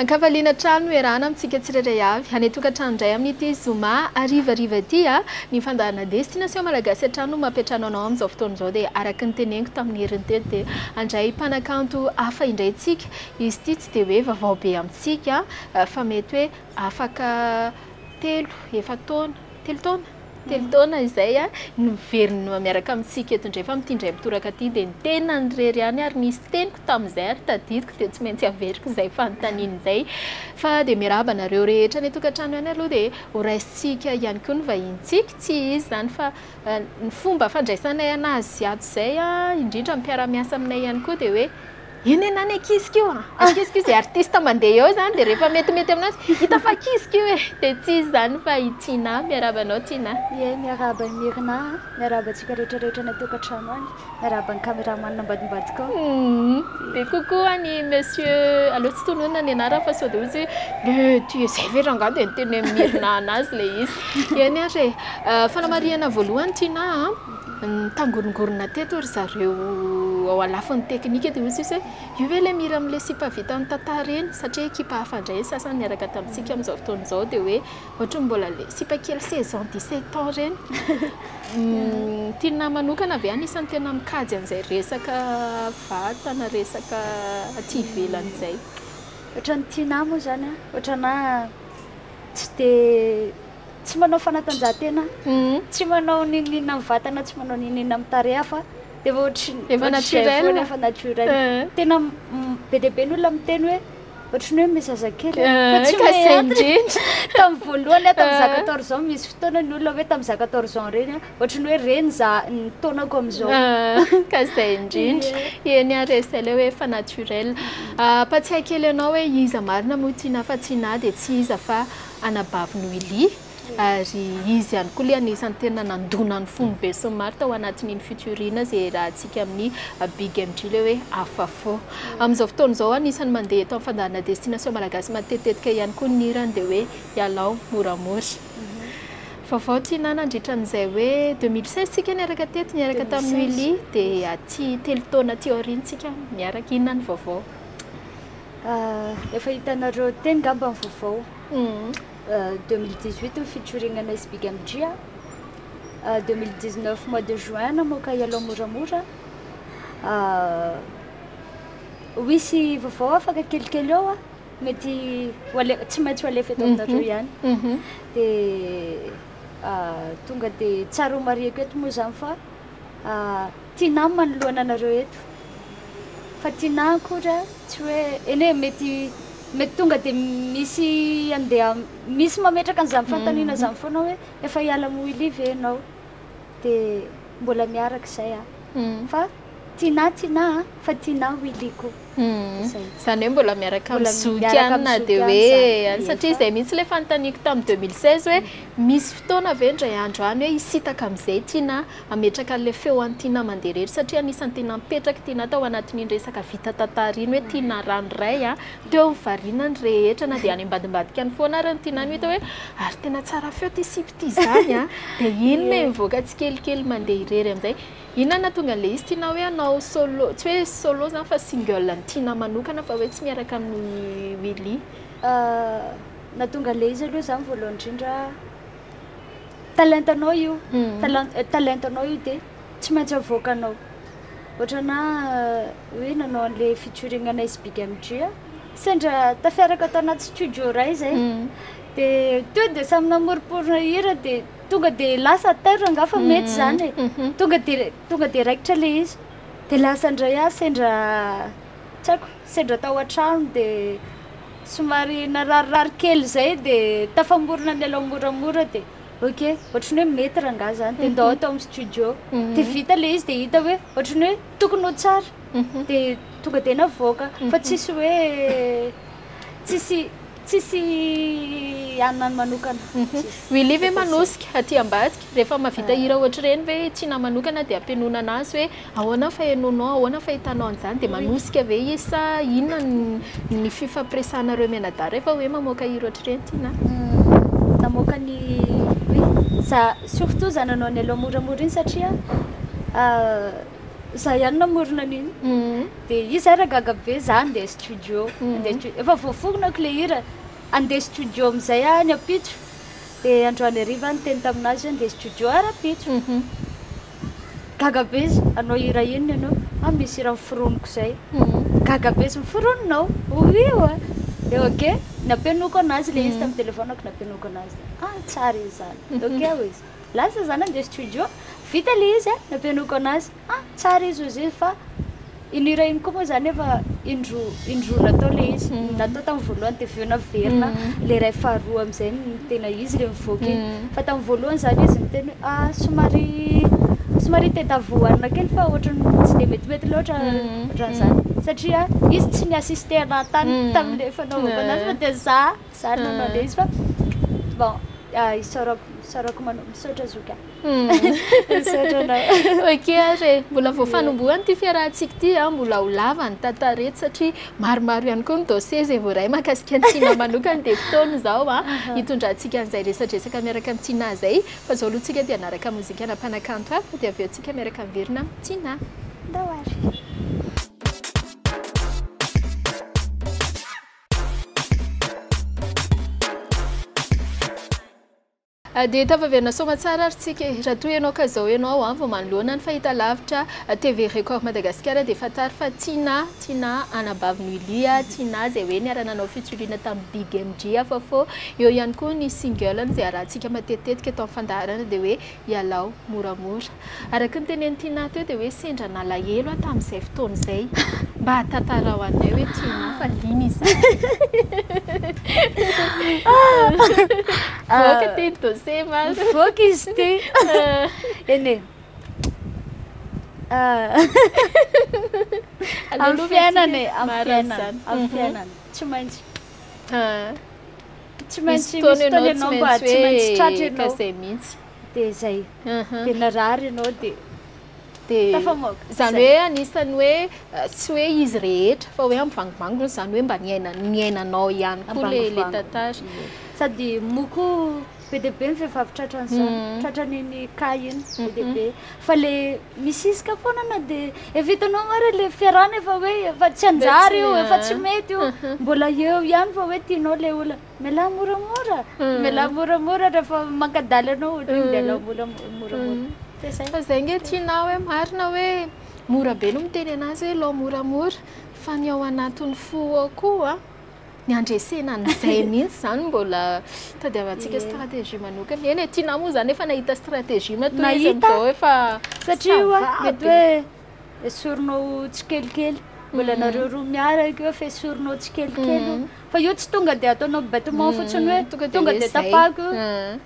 An-kavaliana trano no iarahana amintsika tsirairay avy. Hanay tokantrano indray amin'ity zoma harivariva ity a! Ny fandaharana Destination Malagasy hatrany no mampiantrano anao amin'izao fotoana izao dia araka ny teneniko tamin'ny heriny teto dia handray mpanakanto hafa indray tsika. Izy ity tsy dia hoe vaovao be amintsika fa mety hoe afaka telo, efa-taona, telo taona? Telo taona izay no miverina miaraka amintsika eto indray fa amin'ity indray mitoraka ity dia ny tenany irery ihany ary nisy teniko tamin'izay ary tadidiko dia tsy maintsy averiko izay fanontaniana izay. Fa dia miarahaba anareo rehetra any an-tokantrano ihany aloha dia horaisintsika ihany koa ny vahinintsika, tsy izy izany fa ny fomba fandraisanay an'azy ato izay indrindra ny mpiara-miasa aminay ihany koa dia hoe Eny eny any akisiko io a! Akisiko io izay artista mandeha eo izany dia rehefa metimety aminanjy hita fa akisiko io e! Dia tsy izy izany fa i Tinah. Miarahaba anao Tinah. Ie, miarahaba an'i Myrna a! Miarahaba antsika rehetra rehetra any an-tokantrano any. Miarahaba ny cameraman ambadimbadika ao. Hum. Dia coucou an'i Monsieur, aleo tsy tononina ny anarany fa sao dia ho izy hoe le tu es izay ve rangahy dia niteny hoe Myrna an'azy ilay izy. Eny ary e! Fanamarihana voalohany Tinah a! Nitangorongorona teto ry zareo ao alafon'ny teknika dia hoy sisa hoe, io ve ilay mira amin'ilay sipa vita amin'ny tantara iny? Satria ekipa hafa indray ny sasany niaraka tamintsika amin'izao fotoana izao dia hoe, ohatran'ny mbola ilay sipa kely seize ans, dix sept ans ireny. Ny Tinah manokana ve anisan'ny tena mikajy an'izay resaka vatana, resaka aty ivelany izay? Ohatran'ny Tinah moa izany an, ohatranà tsy dia. tsy manao fanatanjahantena, tsy manao n'inon'inona amin'ny vatana, tsy manao n'inon'inona amin'ny tarehy hafa, dia efa ohatry ny Efa ohatry izay naturel. foana, efa naturel. Eh. Tena mm, be dia be ny olona miteny hoe ohatry ny hoe me zazakely Eh, fa tsy ka me izay antony. indrindra. Tamin'ny voalohany aho tamin'ny za Eh. 14 ans misy fotoana ny olona hoe tamin'ny za 14 ans ireny aho ohatry ny hoe reny za ny taonako amin'izao. Ah, ka izay indrindra. Ie. Eny ary e, izay ilay hoe efa naturel. Ampatsiahy kely anao hoe iza marina moa tiana fa tsy na dia tsy iza fa. anabavy Noily, ary izy ihany koa ilay anisan'ny tena nandona ny fon'ny besinimaro tao anatin'iny feature iny izay iarahantsika amin'ny Big MJ ilay hoe Afafô. Amin'izao fotoana izao anisan'ny mandeha eto amin'ny fandaharana Destination Malagasy matetitetika ihany koa ny hirany dia hoe Ialao moramora. Vaovao Tiana nandritra an'izay hoe deux mille seize isika niaraka teto niaraka tamin'i Noily dia aty telo taona aty aoriana isika miaraka, inona ny vaovao? Efa hitanareo teny ngamba ny vaovao. 2018 ny fitsorinanay sy Big MJ a. 2019 mois de juin namoaka Ialao moramora. Ho hisy vaovao afaka kelikely eo a. Mety tsy maintsy ho alefa eto aminareo ihany. Dia tonga dia tsara homariako eto moa izany fa. Ah, Tinah manoloana anareo eto. Fa Tinah akory a, tsy hoe, eny e, mety, mety tonga dia misy andeha, misy mametraka an'izany fanontaniana izany foana hoe, efa hiala amin'i Willy ve ianao? Dia mbola miaraka izay a. Fa Tinah, Tinah a, fa Tinah Willy koa. Izany hoe mbola miaraka amin'ny zoky ihany na dia hoe any. Satria izay mihitsy ilay fanontaniako tamin'ny deux mille seize hoe misy fotoana ve indray andro any hoe hisintaka amin'izay tiana hametraka an'ilay feo an'i Tiana mandeha irery? Satria anisan'ny tena mipetraka i Tiana tao anatin'iny resaka vita tantara iny hoe Tiana ranoray a, teo ny variana ny rehetra na dia any ambadimbadika any foana ary ny Tiana no hita hoe ary tena tsara feo ity sipa ity izany a, dia iny ilay mivoaka tsikelikely mandeha irery amin'izay. Inona nahatonga an'ilay izy tianao hoe hanao solo, tsy hoe solo izany fa single ny tianao manokana fa hoe tsy miaraka amin'i Willy? Nahatonga an'ilay izy aloha izany voalohany indrindra, talentanao io, talentanao, talentanao io dia tsy maintsy avoakanao. Ohatranà hoe nanao an'ilay featuring anay sy Big MJ a, sendra tafiaraka tao anaty studio iray izay, dia teo dia samy namoromporona hira dia. Tonga dia lasa à terre angaha fa mety izany e. Tonga dia tonga dia raikitra ilay izy. Dia lasa indray aho sendra tsy haiko, sendra tao an-trano dia somary nararirary kely izay dia tafamorona nialao moramora dia ok, ohatran'ny hoe mety rangaha izany dia ndao ato amin'ny studio. Dia vita ilay izy dia hita hoe ohatran'ny hoe tokony ho tsara dia tonga dia navoaka fa tsisy hoe tsisy Tsisy hanina manokana. Tsisy. Willy ve manosika aty ambadika? Rehefa mahavita hira ohatr'ireny ve i Tiana manokana dia ampianonana azy hoe ahoana ny fahenoanao, ahoana ny fahitanao an'izany? Dia manosika ve izy sa inona ny ny fifampiresahanareo mianadahy rehefa hoe mamoaka hira ohatr'ireny Tiana a? Namoaka ny, oui, za surtout zananao Nelo moramora iny satria Za ihany namorona an'iny. Mhm. Dia izy ary gaga be, za handeha studio. Mhm. Handeha studio. Efa voaforonako ilay hira. Handeha studio amin'izay aho any ampitso. Dia androany hariva aho niteny tamin'azy hoe handeha studio aho rahampitso. Mhm. Gaga be izy, hanao hira inona ianao? Ah, misy hira noforoniko izay. Mhm. Gaga be izy, miforononao? Oui ho'a. Dia ok, nampianoako an'azy ilay izy tamin'ny telefaoniko, nampianoako an'azy. Ah, tsara izy izany. Ok ho'izy. Lasa za nandeha studio, vita le izy a, nampianoako anazy, ah tsara izy ozy izy fa iny hira iny koa moa zany efa indroa indroa natao le izy, ny natao tamin'ny voalohany de avy eo naverina le iray faharoa am'zay no tena izy le mivoaka iny, fa tamin'ny voalohany zany izy niteny hoe ah somary somary tadiavo hohanina kely fa ohatran'ny tsy de metimety loatra ohatran'zany, satria izy tsy ni-assister anahy tany tam'le fanaovako anazy fa de za. Za ary manao an'le izy fa bon isaorako isaorako manao misaotra zoky a. Misaotra anao. Ok ary e, mbola vao fanombohana ity fiarahantsika ity an, mbola ho lava ny tantara eto satria maromaro ihany koa ny dossier izay voaray mahakasika an'i Tina manokana dia fotoana izao an hitondrantsika an'izay resadresaka miaraka amin'i Tina izay fa izao aloha tsika dia hanaraka mozikana mpanakanto hafa dia avy eo tsika miaraka miverina amin'i Tina. Ndao ary. Dia tafaverina soamatsara ary tsika e! Raha toa ianao ka izao ianao vao manoloana ny fahitalavitra TV Record Madagasikara dia fantaro fa Tinà, Tinà anabavy Nuly a, Tinà izay hoe niara-nanao fitsuriana tamin'i Big MJ, Afafô. Eo ihany koa ny single-ny izay arahantsika matetitetika eto amin'ny fandaharana dia hoe. ialao moramora. Araka ny tenenin'i Tinah teo dia hoe sendra nalahelo aho tamin'izay fotoana izay. Mba tantarao anay hoe Tinah fa liana izahay. Tsy maintsy misy fotoana ianao tsy maintsy hoe ka izay mihitsy. Dia izay. Dia narary ianao dia tafamoaka. Izany hoe anisan'ny hoe tsy hoe izy rehetra fa hoe ambivangivango izany hoe mba niainanao ihany koa ilay tantara. Sady moa koa be dia be ny vehivavy tratran'izany, tratran'iny cas iny be dia be. Fa le misiska foana na de efa hitanao ary le fiarahana efa hoe efa tsy hanjary io efa tsy mety io mbola eo ihany fa hoe tianao le olona mialà moramora mialà moramora rehefa mankadaly anao ohatra hoe mialà moramora de zay fa zay nge tianao hoe marina hoe mora be no miteny anazy hoe lao moramora fa ny ao anatin'ny fo ao koa ny handresena an'izay mihitsy izany mbola tadiavantsika stratégie manokana. Eny e, Tina moa izany efa nahita stratégie matoa izy amin'izao efa satria mety hoe esorinao tsikelikely mbola mm. nareo roa miaraka eo fa esorinao tsikelikely mm. fa io tsy tonga dia ataonao bêtement mm. fotsiny hoe tonga dia tapako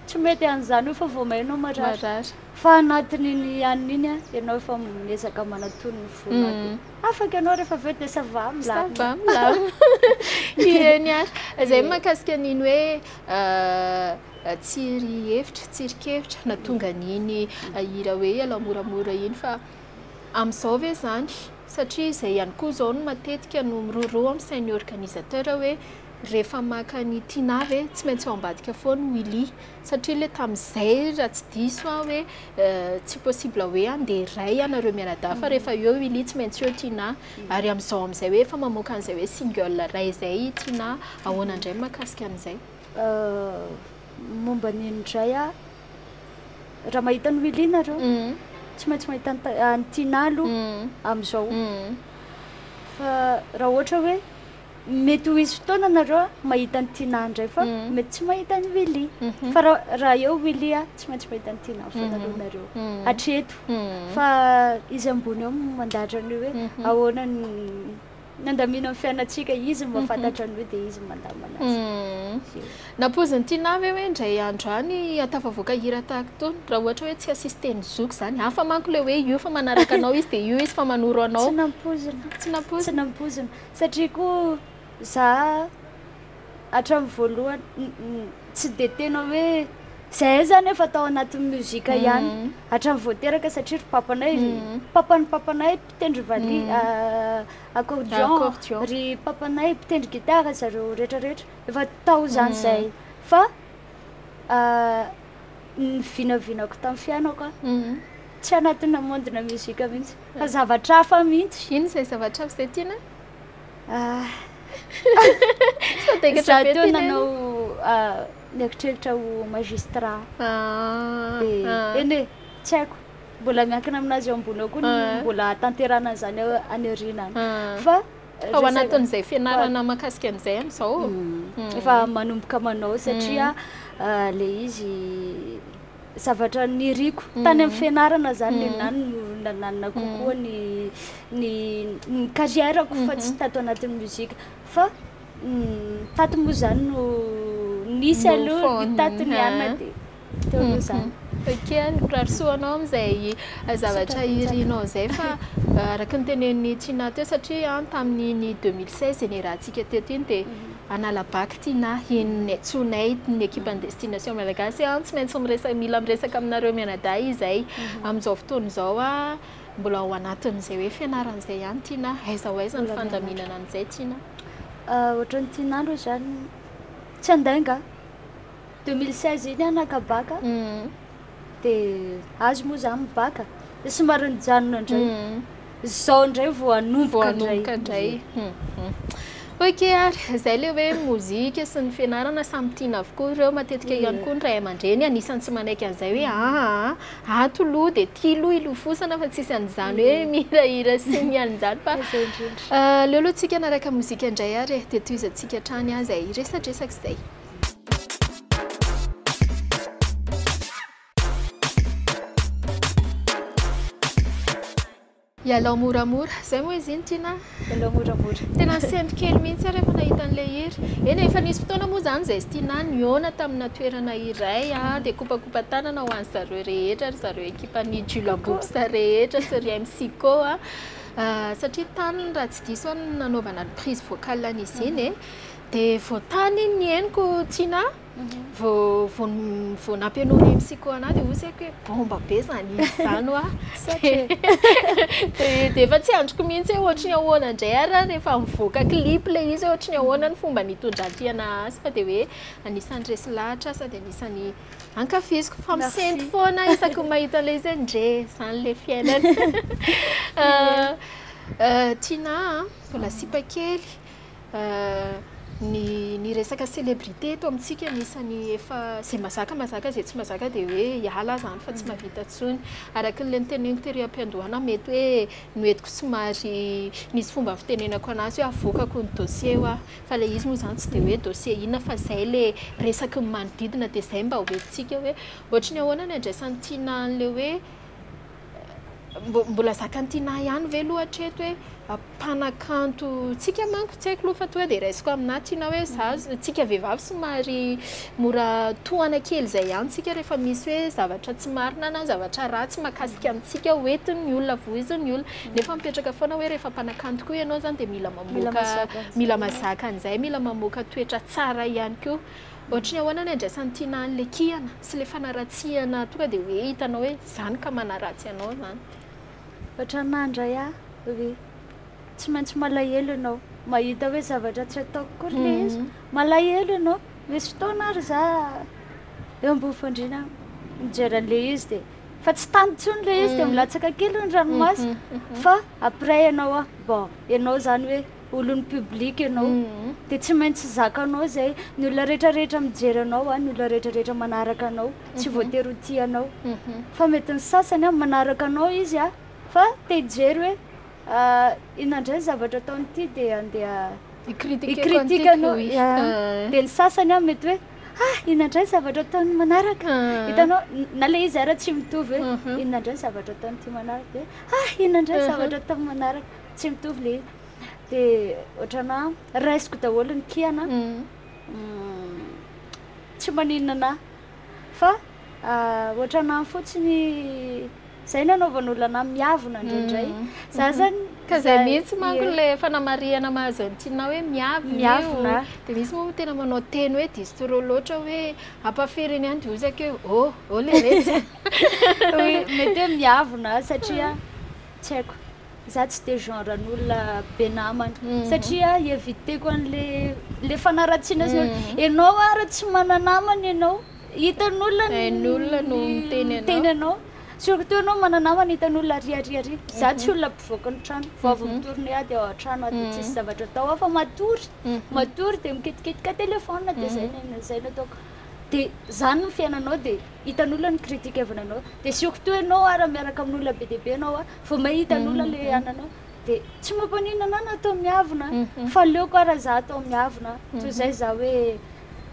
tsy mety an'izany io fa vao mainao marary Fa anatin'iny anona iny an, ianao efa miezaka manatony ny fonako. Afaka ianao rehefa avy eo dia ça va, milamina. Ça va, milamina. Ie, ny ahy, izay ny mahakasika an'iny hoe tsy ry hevitra, tsy ry kevitra na tonga an'iny hira hoe ialao moramora iny fa amin'izao ve izany? Satria izay ihany koa izao no matetika no miroro amin'ny sain'ny organisateur hoe rehefa maka an'i Tiana ve tsy maintsy ao ambadika foana Willy? satria le tamin'izay raha tsy diso aho hoe tsy possible hoe andeha iray ianareo mianadahy fa rehefa eo i Lia tsy maintsy eo Tinah mhm. ary amin'izao amin'izay hoe efa mamoaka an'izay hoe single iray izay i Tinah ahoana indray ny mahakasika an'izay euh, momba ny indray a raha mahita ny Willy nareo mhm. tsy maintsy mahita ny Tinah aloha mhm. amin'izao fa raha ohatra hoe Mety ho hisy fotoana nareo mahita an'i Tina indray fa mety tsy mahita an'i Willy. Fa raha eo Willy a, tsy maintsy mahita an'i Tina foana aloha nareo. Hatreto. Fa izy ambony eo mandahatra an'io hoe ahoana ny nandamina ny fiainantsika, izy mahafantatra an'io dia izy mandama anazy. Nampoizin'i Tina ve hoe indray andro any hahatafavoaka hira tahaka itony raha ohatra hoe tsy assister-n'ny zoky izany? Hafa manko ilay hoe io fa manaraka anao izy dia io izy fa manoro anao. Tsy nampoizina. Tsy nampoizina. Tsy nampoizina. Satria koa za hatramin'ny voalohany tsy dia tena hoe zahay zany efa tao anatin'ny music ihany hatramin'ny vao teraka satria ry papanay papan'ny papanay mpitendry valiha accordion ry papanay mpitendry guitare zareo retraretra efa tao izany zay fa ny vinavinako tamin'ny fiainako a Tsy anatina monde-na musique mihitsy fa zavatra hafa mihitsy. Ino izay zavatra hafa izay tiana? Za teo nanao nieritreritra ho magistrat. Dia eny e, tsy haiko. Mbola miankina amin'azy eo ambony eo koa ny mbola hahatanterahana an'izany any aoriana any. Fa Ao anatin'izay fianarana mahakasika an'izay amin'izao? Efa manomboka manao satria ilay izy. zavatra niriko tany amin'ny fianarana izany le na ny nananina kokoa ny ny ny carrière-ko fa tsy tato anatin'ny mozika fa tato moa izany no nisy aloha ny tato ny anona dia teo aloha izany Okey, mirary soa anao amin'izay zavatra irinao izay fa araka ny tenenin'i Tiana teo satria an tamin'iny deux mille seize iny iarahantsika teto iny dia Analabato Tina, Henon'i Netsonay, ny ekipan'ny Destination Malagasy an, tsy maintsy miresaka, mila miresaka aminareo mianadahy izay amin'izao fotoana izao mbola ao anatin'izay hoe fianarana izay ihany Tina, aiza ho aiza ny fandaminana an'izay Tina? Ohatran'ny Tina aloha izany tsy handainga, deux mille seize iny aho naka bac, dia azy moa zany mibaka dia somary nijanona indray izao indray vao hanomboka hanomboka indray ok ary izay le hoe mozika sy ny fianarana samy tiana avokoa ireo matetika ihany koa ny ray aman-dreny anisan'ny tsy manaiky an'izay hoe aa ato loha dia tia loha ilofosana fa tsisy an'izany hoe mihirahira sy ny an'izany fa aleo aloha tsika anaraka mozika indray ary dia tohizantsika hatrany aza iresadresaka izay Ialao moramora, izay moa izy iny Tiana a! Ialao moramora. Tena nisento kely mihitsy aho rehefa nahita an'ilay hira. Eny e, efa nisy fotoana moa izany izay sy Tiana nihaona tamina toerana iray dia kopakopan-tanana ho an'ny zareo rehetra, ry zareo ekipan'ny Jula Books rehetra sy ry MC Ko a, satria tany raha tsy diso aho no nanaovana ny prise vocale an'izy iny e. De vao tany iny ny henoko Tina vao vao vao nampianao ny MCK anah de ozy aiko hoe bomba be zany izy zany hoa de de efa tsy andriko mihitsy hoe ohatry ny ahoana ndray ara rehefa mivoaka clip le izy ohatry ny ahoana ny fomba nitondrantiana azy fa de hoe anisan'ny resy lahatra sady anisan'ny ankafiziko fa misento foana isaky ny mahita an'le izy hoe ndre zany le fiainana Tina a mbola sipa kely Ny ny resaka célébrité eto amintsika anisan'ny efa izay mazaka mazaka izay tsy mazaka dia hoe hiala aho izany fa tsy mahavita intsony. Araka ilay noteneniko tery am-piandohana aho mety hoe noentiko somary nisy fomba fitenenako an'azy hoe avoakako ny dossier hoa, fa ilay izy moa izany tsy dia hoe dossier inona fa izay ilay resaky ny manodidina dia izay mba hoentintsika hoe ohatry ny ahoana ny andraisan'i Tiana an'ilay hoe Mbola zakan'i Tinah ihany ve aloha hatreto hoe mpanakanto tsika manko tsy haiko aloha fa toa dia raisiko aminà Tinah hoe za mhm. tsika vehivavy somary mora tohana kely izay ihany tsika rehefa misy hoe zavatra tsy marina na zavatra ratsy makasika mhm. antsika hoentin'ny olona voizin'ny olona mhm. nefa mipetraka foana hoe rehefa mpanakanto koa ianao zany dia mila mamoaka mila mazaka an'izay mila mamoaka toetra tsara ihany koa Ohatry ny ahoana ny andraisan'i Tiana an le kihana sy le fanaratsiana tonga dia hoe hitanao hoe zany ka manaratsy anao zany. Ohatranà ndray ah ry tsy maintsy malahelo ianao mahita hoe zavatra tsy ataoko koa ry le izy malahelo ianao misy fotoana ary za eo ambony fandriana mijery an'le izy dia fa tsy tany intsony le izy dia milatsaka kely ny ranomasoko fa après ianao ah bon ianao zany hoe olon'ny public ianao dia tsy maintsy zakanao izay ny olona rehetra rehetra mijery anao a ny olona rehetra rehetra manaraka anao tsy mhm. voatery ho tia anao mhm. fa mety ny sasany a manaraka anao izy a fa te hijery hoe ah, ina indray ny zavatra ataony ity dia andeha ikritika anao eh. dia ny sasany a mety hoe ah ina indray ny zavatra ataony manaraka eh. hitanao na le izy ara tsy mitovy hoe mhm. ina indray ny zavatra ataony ity manaraka dia ah ina indray ny zavatra ataony manaraka tsy mitovy le de ohatrana raisiko daholo ny kiana mm, tsy maninona na fa ah, ohatrana fotsiny zay nanaovan'olona miavona indraindray mm. za mhm. zany ka zay mihitsy manko le fanamarihana mahazo antinao hoe miavona de misy moa tena manao teny hoe distro loatra hoe ampafiriny any de ozaka eo o oh, o oh, le retsy mety hoe miavona satria tsy haiko Za tsy de genre n'olona be namana satria hi-eviter-ko an'le le fanaratsiana sy ny olona. Ianao ary tsy mana-namana ianao, hitan'olona ny Hain'olona no miteny anao. miteny anao. Surtout ianao mana-namana hitan'olona ary ary ary. Za tsy olona mpivoaka ny trano, vao avy mitory ny ady ao an-trano aho de tsisy zavatra atao hafa matory, matory de mikitikitika téléphone de zay ny aina- zay ny ataoko. De zany ny fiainanao de hitan'olona ny critique avy any anao. De surtout ianao ary miaraka amin'olona be dia be ianao a, Vao mahita ny olona le ananao de tsy mampanina anah na atao miavona fa aleoko ara za atao miavona toy zay za hoe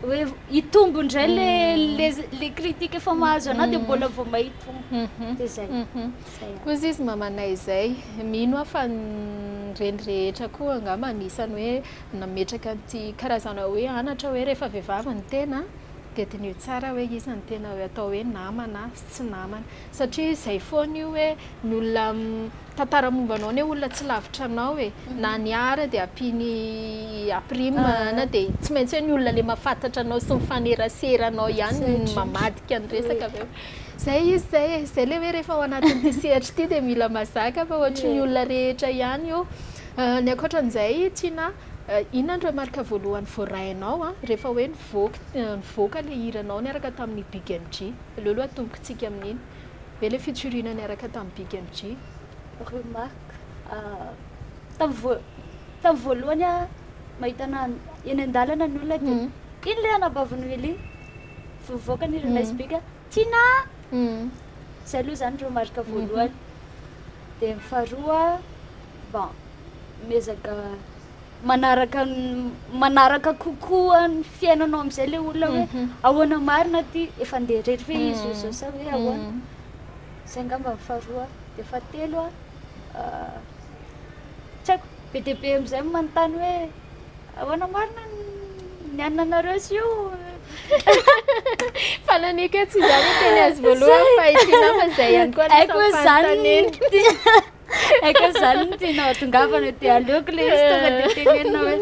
hoe hitombo indray le le le critique efa mahazo anah de mbola vao mahitombo de zay koa izy izy mamanay izay mino aho fa ny reny rehetra koa angamba anisany hoe nametraka an'ity karazana hoe anatra hoe rehefa vehivavy ny tena de diniho tsara hoe iza ny tena hoe atao hoe namana sy tsy namana satria zay foana io hoe ny olona mitantara momba anao ny olona tsy lavitra anao e na ny ahy ary dia ampiany aprime na dia tsy maintsy hoe ny olona le mahafantatra anao sy mifanerasera anao ihany no mamadika ny resaka avy eo zay izy zay e zay le hoe rehefa ao anatin'ity sehatra ity dia mila mazaka fa ohatry ny olona rehetra ihany io ny ankoatran'izay Tina inona no remarque voalohany voarainao rehefa hoe nivoaka nivoaka le hiranao niaraka tamin'ny big MJ Aleo aloha atomboky tsika amin'iny. Ve le fitsoriana niaraka tamin'i Big MJ? Remarque, tamin'ny voa- tamin'ny voalohany aho mahita anà eny an-dalana ny olona dia iny le anabavin'i Willy vao mivoaka ny hiran'i Ice Big, Tina! Zay aloha zany remarque voalohany. Dia ny faharoa, bon, miezaka. manaraka manaraka kokoa ny fiainanao amin'izay ilay olona hoe mhm. ahoana marina aty efa ndeha rery ve izy io zao sa hoe mhm. ahoana izay nga mba faharoa dia fahatelo a ah, tsy haiko be dia be amin'izay manontany hoe ahoana marina ny anina anareo sy io fa naneke tsy izany teny azy voalohany fa ity nafa izay ihany koa aiko zany Eka zany no tena hatongavana dia aleoko le izy tonga dia tenenina hoe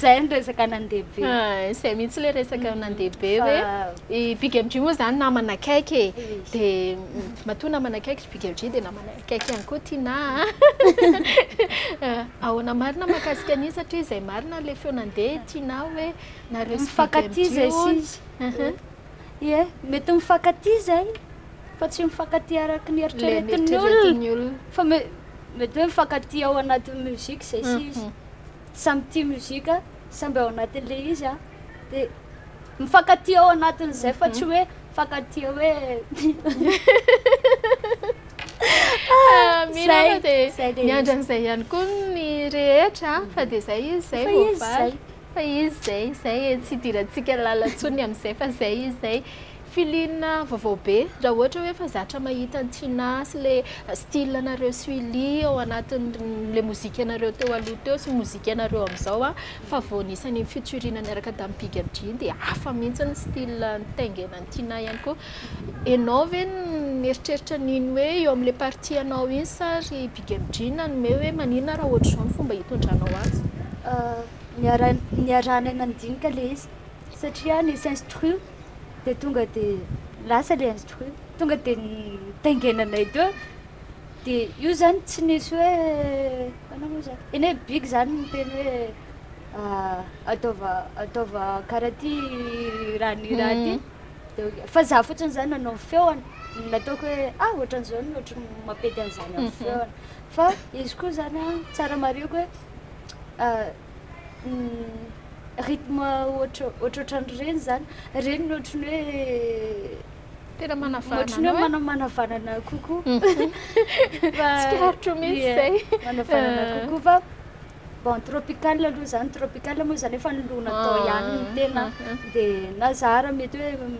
zay ny resaka nandeha be. Ah, zay mihitsy le resaka mm-hmm. nandeha be hoe i Big MG moa zany namana akaiky e. mm-hmm. Dia matoa namana akaiky Big MG dia namana akaiky ihany koa Tina. Ah, ahoana marina makasika an'io satria zay marina le feo nandeha Tina hoe nareo sy Big MG. Ie, mety mifankatia izay fa tsy mifankatia araka ny eritreretin'ny olona. Fa mety hoe mifankatia ao anatin'ny musique izay sy izy. Mhm. Samy tia musique, samby ao anatin'ilay izy a. Dia mifankatia ao anatin'izay fa tsy mhm. hoe mifankatia hoe Miandra an'izay ihany koa ny rehetra fa dia izay izy izay voavaly. Fa izy zay izay e, tsy hidirantsika lala tsony amin'izay fa zay izy zay. Filine vaovao be, raha ohatra hoe efa zatra mahita an'i Tinah sy le style anareo sy Willy ao anatin'le mozikanareo teo aloha teo sy mozikanareo amin'izao an, fa vao nisy an'iny futurina niaraka tamin'i Big Adrien dia hafa mihitsy ny style nitaingenan'i Tinah ihany koa. Enao ve mieritreritra an'iny hoe eo amin'ilay partie anao iny sa ry Big M Jean nanome hoe maninona raha ohatr'izao ny fomba hitondranao azy? Niaraha- niarahanay nandinika ilay izy satria nisy instru dia tonga dia lasa ilay instru. Tonga dia nitaingenanay teo dia io izany tsy nisy hoe ahoana moa izany? Eny e, Big izany niteny hoe ataova ataova karaha ty raha ny raha ty. Fa za fotsiny zany nanao feony nataoko hoe ah ohatran'izao no ohatry ny mampety an'izany amin'ny feony fa izy koa zany a tsara marihiko hoe ah, mm, rythme ohatra ohatrohatran'ireny zany ireny no ohatry ny hoe tena manavanana ohatry ny hoe mana- manavanana kokoa fa Tsikarotro mihitsy Ie, izay. manavanana kokoa fa Bon, tropical aloha izany, tropical moa izany efa ny loha natao ihany ny tena, dia na izaho ary mety hoe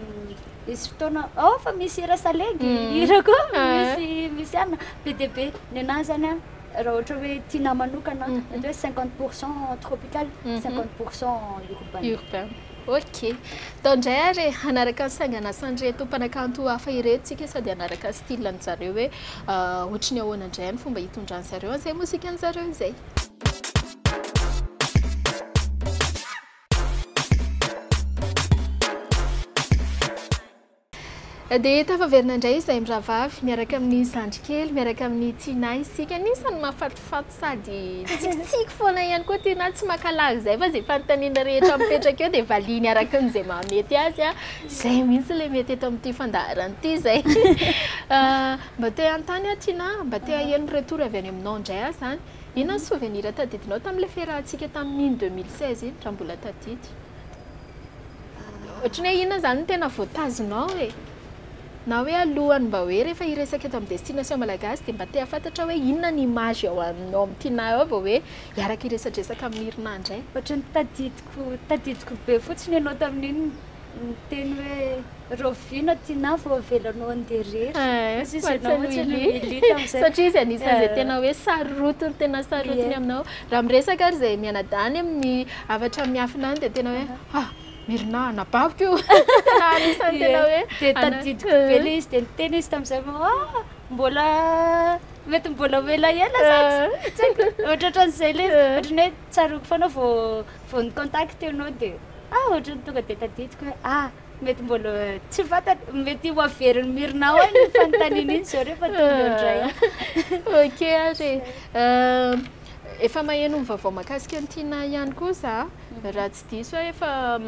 misy fotoana oh fa misy hira salegy, hira koa misy misy anona, be dia be, ny anah izany an, raha ohatra hoe tiana manokana an, mety hoe cinquante pour cent tropical, cinquante pour cent urbain. Ok. Atao indray ary e, hanaraka ny sangan'asan'ireto mpanakanto hafa ireto isika sao dia hanaraka ny style an'i zareo hoe ohatry ny ahoana indray ny fomba hitondran'i zareo an'izay mozika-n'i zareo izay. Dia tafaverina indray izahay mirahavavy, miaraka amin'ny zandrikely, miaraka amin'ny Tinah isika. Anisan'ny mahafatifaty sady tsikitsiky foana ihany koa Tinah, tsy maka lagy izay fa izay fanontaniana rehetra mipetraka eo dia valiany araka ny izay mahamety azy. Izay mihitsy ilay mety eto amin'ity fandaharana ity izay. Mba te hanontany aho Tinah, mba te haheno retour avy any aminao indray aho izany. Inona ny souvenir tadidinao tamin'ilay fiarahantsika tamin'iny deux mille seize iny, raha mbola tadidy? Ohatran'ny hoe inona izany no tena voatazinao e? Na hoe alohan'ny mba hoe rehefa hiresaka eto amin'ny Destination Malagasy dia mba te hahafantatra hoe inona ny image ao amin'ny tinà ao vao hoe hiaraka hiresadresaka amin'ny Mirina indray? Ohatran'ny tadidiko tadidiko be fotsiny ianao tamin'iny niteny hoe rahoviana tinà vao avelanao handeha irery? Satria izy anisan'izay tena hoe sarotiny tena sarotiny aminao. Raha miresaka ary izay mianadahy any amin'ny hafatra miafina any dia tena hoe. Ah! Mirina, anabaviko io! Tena anisan'ny tena hoe Dia ana- tadidiko be ilay izy, dia niteny izy tamin'izay fa ah, mbola mety mbola ho elaela sa tsy tsy haiko. Ohatraohatran'izay ilay izy, Eh. ohatran'ny hoe tsaroako foana vao vao ni-contacter anao dia ah, ohatran'ny tonga dia tadidiko hoe ah, mety mbola tsy fantat- mety ho averin'i Mirina ao iny fanontaniana iny izao rehefa tonga eo indray. Ok ary e. Eh, Efa maheno ny vaovao mahakasika an'i Tinah ihany koa za, raha tsy diso aho efa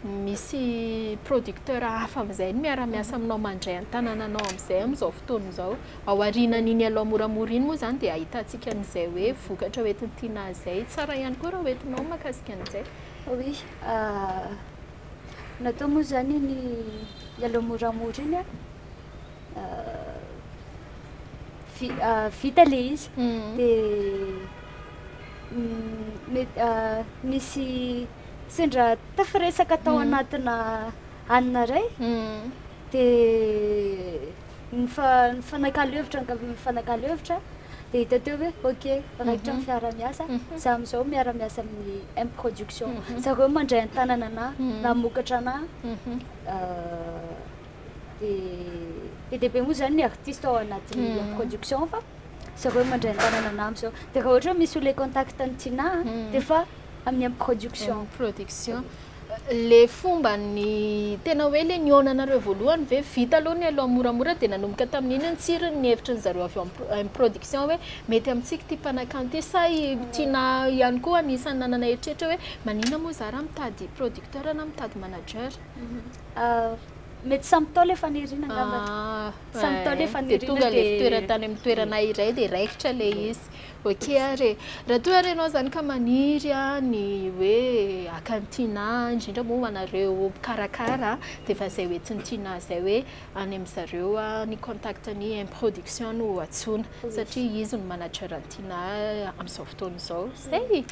misy producteur hafa amin'izay no miara-miasa aminao mandray an-tanananao amin'izay amin'izao fotoana izao. Ao aorianan'iny Allo moramora iny moa izany dia ahitantsika an'izay hoe vokatra ho entin'i Tinah izay. Tsara ihany koa raha ho entinao ny mahakasika an'izay. Oui, natao moa izany iny Allo moramora iny. vita ilay izy dia misy sendra tafiresaka tao anatina hanina iray dia nifanakalo hevitra nifanakalo hevitra dia hita teo hoe ok raikitra ny fiaraha-miasa za amin'izao miara miasa amin'ny M production zareo mandray an-tanana anah namokatra anah dia be dia be moa izany ny artiste ao anatin'ny mm. production fa zareo mandray an-tanana anambo zao dia raha ohatra hoe misy olona contact ny tina mm. dia fa amin'ny am production production le fomba ny tena hoe le nionanareo voalohany ve vita aloha ny aloha moramora dia nanomboka tamin'iny ny tsiriny ny hevitry ny zareo avy am production hoe mety amintsika ty mpanakanty sa tina ihany koa anisan'ny nanana eritreritra hoe manina moa zara mitady producteur na mitady manager mhm. Mety samy Ntaolo efa nirina angamba. Ah, Samy Ntaolo efa nirina dia tonga le fitoerana tany amin'ny toerana iray dia raikitra le izy. Ok ary raha toa ary ianao zany ka maniry ny hoe haka ny tianà, indrindra moa ho anareo mpikarakara dia efa zay hoe tsy ny tianà zay hoe any amin-dry zareo ny contact ny M production no antsoina satria izy no manager ny tianà amin'izao fotoana izao. Zay!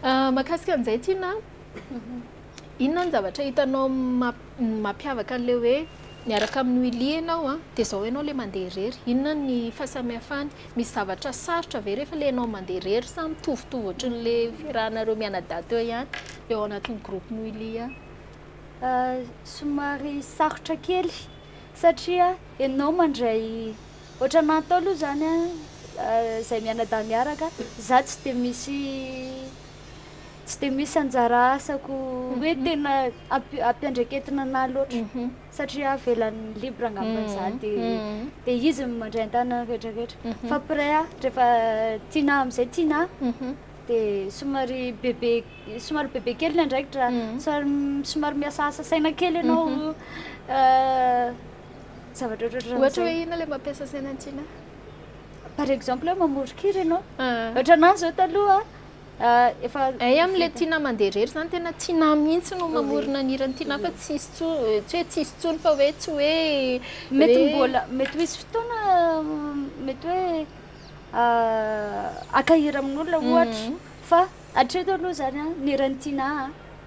Mahakasika an'izay tianà. Inona ny zavatra hitanao mampiavaka an'ilay hoe miaraka amin'i Willy ianao dia izao ianao ilay mandeha irery? Inona ny fahasamihafany? Misy zavatra sarotra ve rehefa ilay ianao mandeha irery sa mitovitovy ohatran'ilay fiarahanareo mianadahy teo ihany eo anatin'ny groupe-n'i Willy any? Somary sarotra kely satria ianao mandray, ohatran'ny atao aloha izany an, izahay mianadahy miaraka, izaho tsy dia misy tsy dia misy anjara asako hoe tena ampi- ampiandraiketina anah loatra Mhm. satria avelany libre angamba Mhm. za de Mhm. de izy no mandray an-tanana rehetra rehetra Mhm. fa pray aho rehefa tianah amin'izay tianah Mhm. de somary bebe somary bebe kely ny andraikitra Mhm. somary somary miasaasa saina kely ianao Mhm. eh, zavatra ohatratra Ohatra hoe inona ilay mampiasa saina antsina? par exemple hoe mamoron-kira ianao Ah. ohatra anah zao taloha efa. Hay amin le Tina mandeha irery zany tena Tina mihitsy no mamorona ny hiran'i Tina fa tsy hisy tsy hoe tsy hisy intsony fa hoe tsy hoe mety mbola mety ho hisy fotoana mety hoe haka hira amin'olona ohatra fa hatreto aloha zany ny hiran'i Tina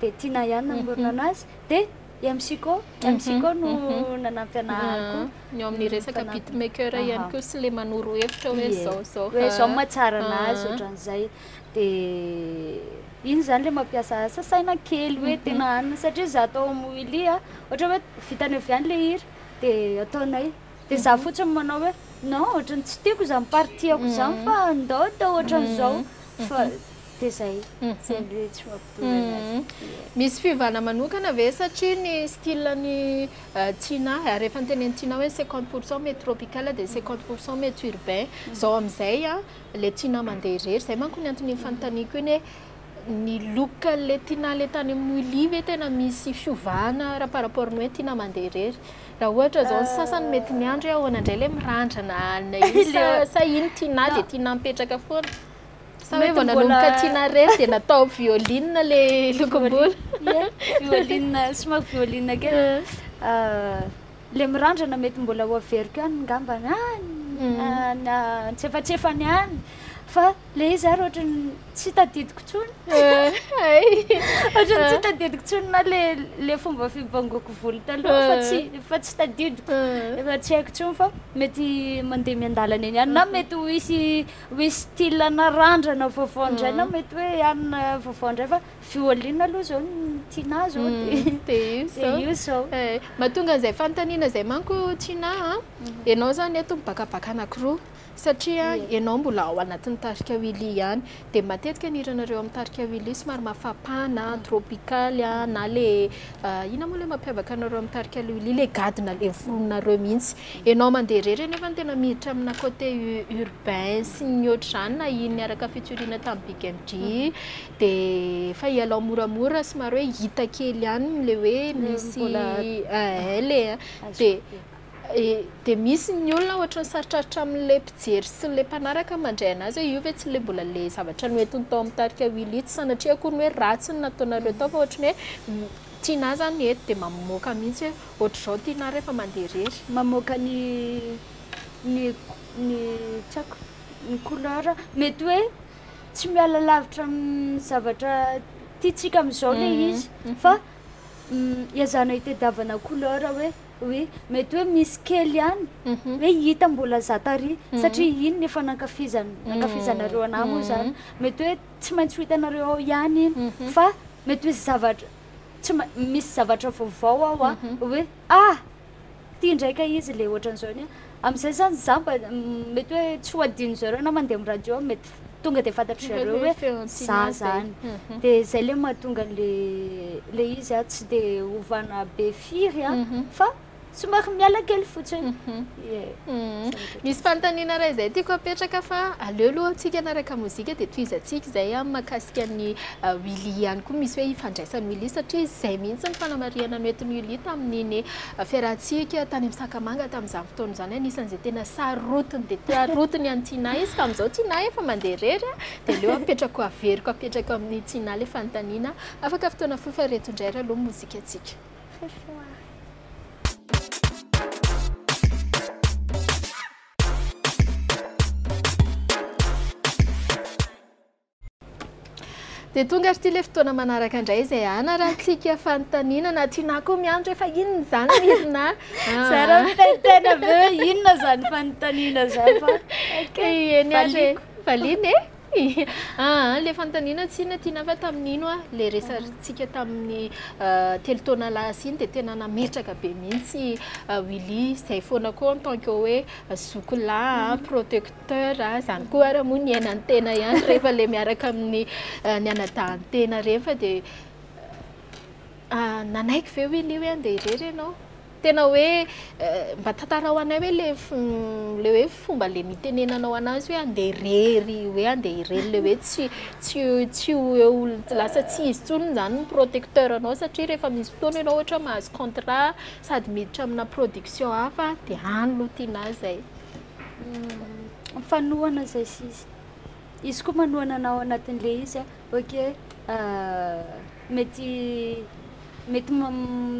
dia Tina ihany namorona anazy dia I MC Ko, MC Ko no nanampy anah ary koa. Ny ao amin'ny mm, resaka beatmaker ihany koa sy le manoro hevitra hoe zao zao. Hoe zao mahatsara anazy ohatran'izay. Dia iny zany le mampiasa asa saina kely hoe mhm. tena anina satria za atao amin'ny Willy a, ohatra hoe vitany avy any le hira dia ataonay. Dia za mhm. fotsiny manao hoe non ohatran'ny tsy tiako izany partie-ako izany mhm. fa ndao atao ohatran'izao fa Dia izay, izay no tsy mampitovana azy. Misy fiovana manokana ve satria ny style ny Tina, ary efa notenenin'i Tina hoe cinquante pour cent mety tropical dia cinquante pour cent mety urbain, izao amin'izay ilay Tina mandeha irery, izay manko ny antony fanontaniako iny hoe ny look an'ilay Tina ilay tany amin'ny Willy ve tena misy fiovana raha par rapport ny hoe Tina mandeha irery? Raha ohatra izao ny sasany mety miandry hoe ahoana indray ilay mirandrana ilay izy sa iny Tina dia Tina mipetraka foana? Sa hoe vao nanomboka tiana ref dia natao violina le lokom-bolo? Ie, violina, somary violina kely. Ah. Ah, le mirandrana mety mbola ho averiko any ngamba any, Mm. ah, na antsefatsefany any. Fa le izy ary ohatran'ny tsy tadidiko intsony. Hay. Ohatran'ny tsy tadidiko intsony na le le fomba fibangoako volo taloha fa tsy fa tsy tadidiko. Mm. Efa tsy haiko intsony fa mety mandeha miandalana eny ihany na mety ho hisy Hoe style narandrana vaovao indray na mety hoe an vaovao indray fa violin aloha zao no tianah zao de io zao. Mahatonga an'izay fanontaniana izay manko Tiana a, ianao izany eto mibakabaka anankiroa satria ianao mbola ao anatin'ny tarika Willy ihany dia matetika ny hiranareo amin'ny tarika Willy somary mafapana, tropical na le inona moa ilay mampiavaka anareo amin'ny tarika Willy ilay gadona ilay vorononareo mihitsy. Enao mandeha irery anefa no tena miditra amina côté urbain sy ny ohatr'izany na iny niaraka featuring tamin'ny Big MJ dia efa ialao moramora somary hoe hita kely ihany ilay hoe misy ilay dia dia misy ny olona ohatra ny sarotrarotra amin'ilay mpijery sy ilay mpanaraka mandray anazy hoe io ve tsy ilay mbola ilay zavatra noentiny tao amin'ny tarika Willy tsy sanatria akory ny hoe ratsy ny nataonareo tao fa ohatra ny hoe tianà izany ny hety dia mamoaka mihitsy hoe Otrzao ty na refa mande rery. Mamoaka ny ny ny tsako ny couleur mety hoe tsy miala lavitra amin'ny zavatra tiantsika amin'izao le izy fa iazana itedavana couleur hoe oui mety hoe misy kely ihany hoe hita mbola za tary satria iny ny efa nankafizana nankafizanareo anah moa zany mety hoe tsy maintsy ho hitanareo ao ihany iny fa mety hoe zavatra tsy ma misy zavatra vaovao ao a hoe ah ty indray ka izy le ohatran'izao ny a amin'izay zany za mba mety hoe tsy ho adinon'i zareo na mandeha amin'ny radio aho mety tonga de fantatry zareo hoe za zany de zay le mahatonga le le izy a tsy de hovana be firy a fa somary miala kely fotsiny misy fanontaniana ray izay tiako apetraka fa aleo aloha antsika anaraka mozika dia tohizantsika izay a makasika ny uh, wili ihany koa misy hoe ifandraisan'ny wili satria izay mihitsy ny fanamarihana noetin'ny wili tamin'iny uh, fiarahantsika tany amin'ny sakamanga tamin'izany fotoana izany anisan'izay tena sarotiny dia tiarotiny an'ny tiana izy tamin'izao tiana efa mandeha rery a dia aleo apetrako averiko apetrako amin'ny tiana le fanontaniana afaka fotoana fofa reto indray raloha mozika antsika ce soir. Dia tonga ary ity ilay fotoana manaraka indray izay hanarantsika fanontaniana na tianà koa miandry efa inona izany mirina zara mitantena be inona izany fanontaniana izany fa eny ary valiana e Aa le fanontaniana tsy inona ity na fa tamin'ny ino a le resatsika tamin'ny telo taona lasa iny dia tena nametraka be mihitsy Willy izay foana koa en tant que hoe zoky lahy protecteur izany koa ary moa ny aina ny tena ihany rehefa le miaraka amin'ny ny anadahin-tena ireny fa dia nanaiky ve Willy hoe andeha irery ianao Tena hoe mba tantarao anay hoe le le hoe fomba le nitenenanao anazy hoe andeha irery hoe andeha irery le hoe tsy tsy tsy ho eo lasa tsy izy tsony zany ny protecteur anao satria rehefa misy fotoana ianao ohatra mahazo contrat sady miditra amina production hafa de any lo tiana azy zay hmm, fanohana zay sisa izy koa manohana anao anatin'le izy a ok euh, Mety mety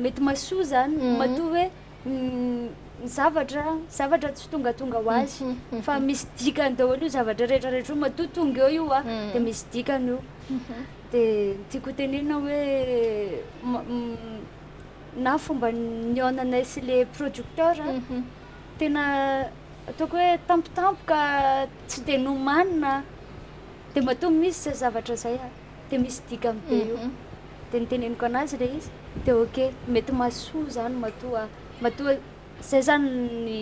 mety mahasoa zany mhm. matoa hoe ny zavatra zavatra tsy tongatonga ho azy mhm, mhm. fa misy dikany daholo io zavatra rehetrarehetra io matoa tonga eo io a de misy dikany io de tiako tenena hoe na fomba niaonanay sy le producteur tena ataoko hoe tampotampoka tsy de nomanina de matoa misy zay zavatra zay a dia misy dikany be io dia niteneniko anazy ilay izy dia ok mety mahasoa izany matoa matoa izay izany ny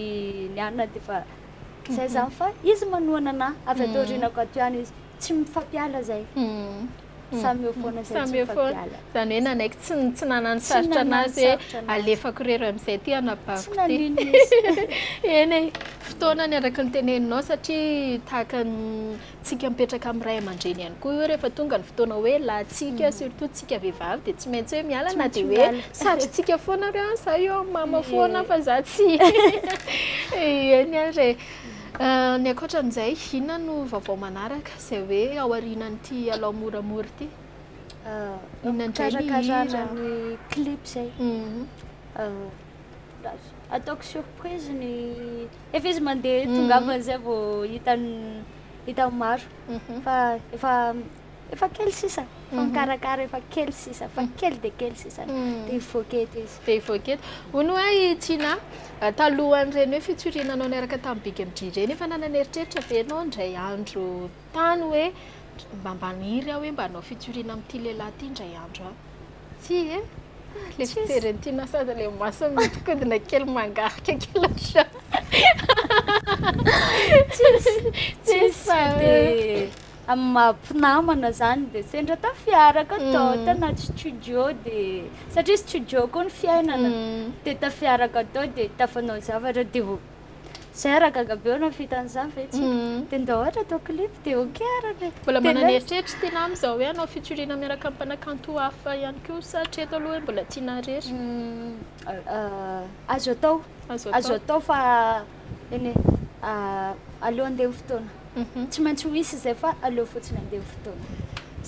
ny anona dia efa izay izany fa izy manohana anah avy ato aoriana ko ato ihany izy tsy mifampiala izay samy eo foana izay tsy mifampiala izany hoe nanaiky tsy tsy nanano sarotra anazy hoe alefako irery amin'izay ity anabaviko ity tsy nanino izy eny e fotoana ny araka ny teneninao satria tahaka ny Tsika mipetraka amin'ny ray aman-dreny ihany koa io rehefa tonga ny fotoana hoe lahintsika, surtout tsika vehivavy dia tsy maintsy hoe miala na dia hoe satrintsika foana hoe an, za eo amin'ny mama foana fa za tsy eny ary e. Ny ankoatran'izay inona no vaovao manaraka izay hoe aorianan'ity Alao moramora ity? Inona indray ny hira? Fikarakarana ny clip izay. Ataoko surprise ny Efa izy mandeha tongavana izay vao hitan'ny hitan'ny maro. Fa efa efa kely sisa. Fa mikarakara efa kely sisa. Fa kely dia kely sisa. Dia hivoaka eto izy. Dia hivoaka eto. Hoy ny hoe i Tina, talohan'ireny hoe fitsuriana anao niaraka tamin'ny Big MJ ireny, efa nanana eritreritra ve ianao indray andro tany hoe mba maniry aho hoe mba hanao fitsuriana amin'ity lehilahy ity indray andro aho. Tsia e? Le fijery an'ity na sady ilay masony mihodinkodina kely mangarika kely ohatran'ny Tsisy, tsisy dia amin'ny maha mpinamana izany dia sendra tafiaraka tao mm. tanaty studio dia satria studio koa ny fiainana mm. dia tafiaraka tao dia tafanao zavatra dia Zay ara gaga be olona fita an'izany ve tsy de ndao ohatra atao clip de ok ara le mbola manana eritreritra tena amin'izao hoe hanao featuring miaraka amin'ny mpanakanto hafa ihany koa sa hatreto aloha hoe mbola tiana irery azo atao azo atao fa eny e aleo andeha ny fotoana tsy maintsy ho hisy izay fa aleo fotsiny andeha ny fotoana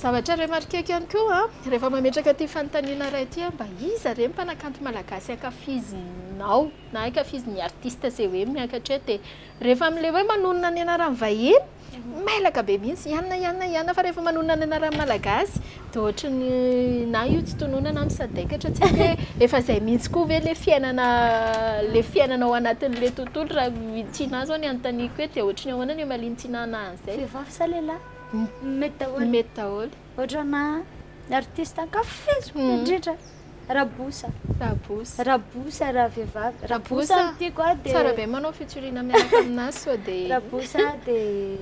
zavatra remarqueko ihany koa a rehefa mametraka ity fanontaniana iray ity hoe mba iza re ny mpanakanto malagasy ankafizinao na ankafizy ny artiste zay hoe miakatra eo de rehefa amle hoe manonona ny anarany vahiny mailaka be mihitsy ianona ianona ianona fa rehefa manonona ny anarany malagasy de ohatrany na io tsy tonona na misadaikatra tsy aiko hoe efa zay mihitsy koa ve le fiainana le fiainana ao anatinle tontolo raha i Tina zao ny anotaniako eto de ohatrany ahoana ny omalin'i Tina naha an'zay vehivavy sa lehilahy mety daholo mety daholo Otrana artiste ankafiziko indrindra Raboussa. Raboussa. Raboussa raha vehivavy. Raboussa no tiako a dia Tsara be manao featuring miaraka aminà sao dia Raboussa dia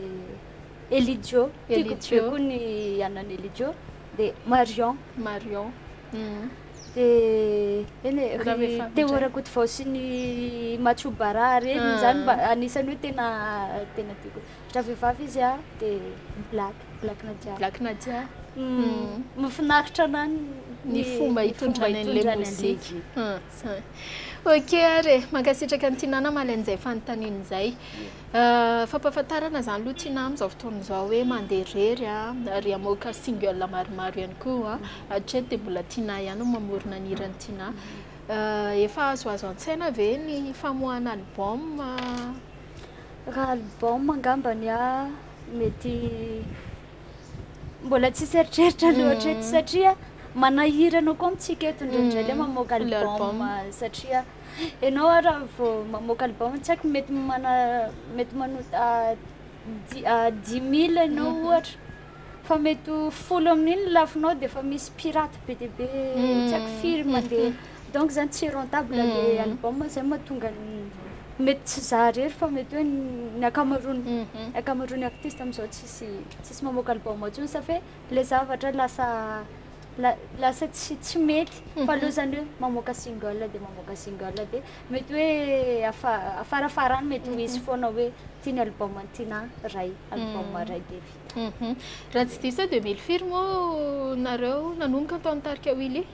Elidio. Tiako be koa ny anan'i Elidio. Dia Marion. Marion. Dia eny e, ry Théo Rakotovao sy ny Macho Bara ireny izany mba anisan'ny hoe tena tena tiako. Raha vehivavy izy a dia Black. Black Nadia. Black Nadia. Mafinaritra na ny fomba hitondrany an'ilay mozika. Ok ary e, mankasitraka an'i Tinana Malen izay fanontaniana izay. Fampahafantarana izany aloha Tina amin'izao fotoana izao hoe mandeha irery ary hamoaka single maromaro ihany koa. Hatreto dia mbola Tina ihany no mamorona ny hiran'i Tina. Efa azoazo an-tsaina ve ny famoahana album? Raha album angambany aho Mety mbola tsisy eritreritra loatra eto satria manahira anao koa amintsika eto indraindray le mamoaka album satria ianao ary raha vao mamoaka album tsy haiko mety mana mety manota di- ah, dix mille ianao ohatra fa mety ho folo amin'iny ny lafinao de efa misy pirate be dia be tsy haiko firy mandeha Donc zany tsy rentable le album zay mahatonga ny mety tsy za rery fa mety hoe ny akamaroany akamaroany artiste amizao tsisy tsisy mamoaka album tsony sa fe le zavatra lasa lasa tsy tsy mety fa aleo zany hoe mamoaka single de mamoaka single de mety hoe afa afarafarany mety ho izy foana hoe ty ny album ny tina ray album ray de vita raha tsy diso aho deux mille firy moa nareo nanomboka tao ny tarika willy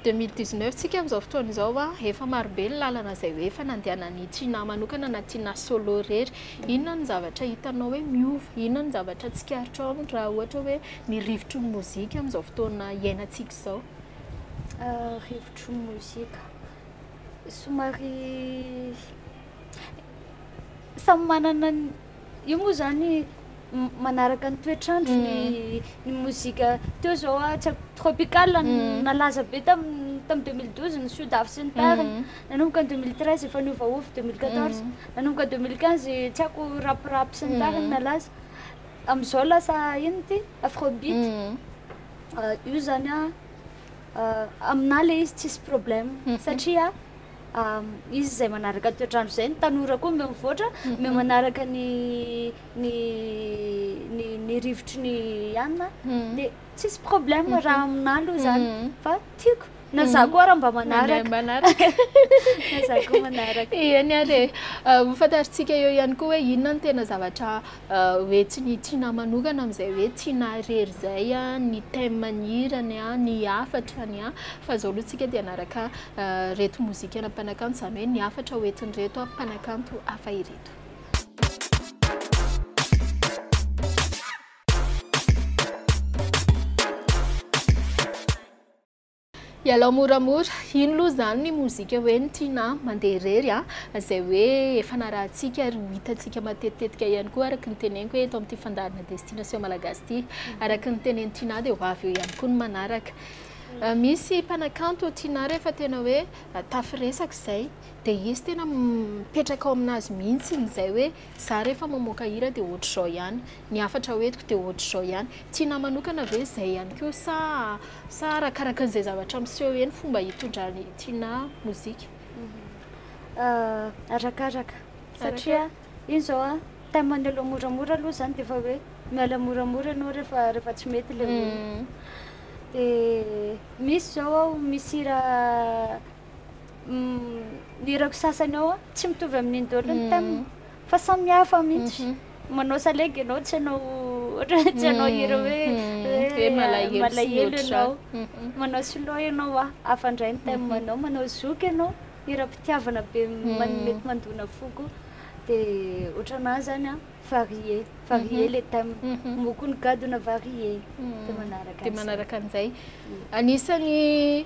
2012 tsika amin'izao fotoana izao a efa marobe ny lalana izay hoe efa nandehanan'ny Tsinah manokana na Tsinah solo irery inona ny zavatra hitanao hoe miova inona ny zavatra tsikaritrao aminy raha ohatra hoe ny rivotry ny mozika amin'izao fotoana iainantsika izao rivotry ny mozika somary samy manana ny Io moa zany manaraka ny toetr'andro ny ny mozika teo zao a tsy haiko tropical no nalaza be tam tam deux mille douze ny sudaf sy ny tariny nanomboka ny deux mille treize efa niovaova deux mille quatorze nanomboka deux mille quinze tsy haiko rap rap sy ny tariny nalaza am'zao lasa ino ty afro beat io zany a aminahy le izy tsisy problème satria Izy izay manaraka ny toetr'andro izay, ny tanora koa omeo mivoatra, omeo manaraka ny ny ny ny rivotry ny ihany dia tsisy problème raha aminà aloha izany fa tiako na za koa raha mba manaraka manaraka na za koa manaraka ihany ary ho fantarintsika eo ihany koa hoe inona no tena zavatra hoe tsy ny tianà manokana amin'izay hoe tianà irery izay ny thème-n'ny hirany, ny hafatrany fa izao aloha tsika dia hanaraka ireto mozikana mpanakanto izany hoe ny hafatra ho entin'ireto mpanakanto hafa ireto. Ialao moramora, ino loha zany ny mozika hoe ny Tiana mandeha irery a! izay hoe efa narahantsika ary ho hitantsika matetitetika ihany koa araka ny teneniko hoe eto amin'ity fandaharana Destination Malagasy ity. Araka ny tenenin'i Tiana dia ho avy eo ihany koa ny manaraka. Misy mpanakanto Tiana rehefa tena hoe tafiresaka izay dia izy tena mipetraka ao aminazy mihitsy izay hoe Za rehefa mamoaka hira dia ohatr'izao ihany, ny hafatra ho entiko dia ohatr'izao ihany. Tianà manokana ve izay ihany koa sa sa arakaraka an'izay zavatra miseho eo ny fomba hitondran'i Tianà mozika? Arakaraka, satria iny izao a, thème-ny aloha moramora aloha izany dia efa hoe miala moramora ianao rehefa rehefa tsy mety ilay olona. Dia misy izao aho misy hira ny hirako sasany ao tsy mitovy amin'ny indolo ny thème fa samy hafa mihitsy mhm. manao salegy ianao tsy anao ohatra tsy anao mhm. hira hoe hoe malahelo ianao mhm. manao solo ianao a hafa ndray ny thème anao manao zoky ianao hiram-pitiavana be mety mandona foko dia ohatranah zany a varié varié mhm. le thème mhm. mokony gadona varié mhm. dia manaraka dia manaraka an'izay anisany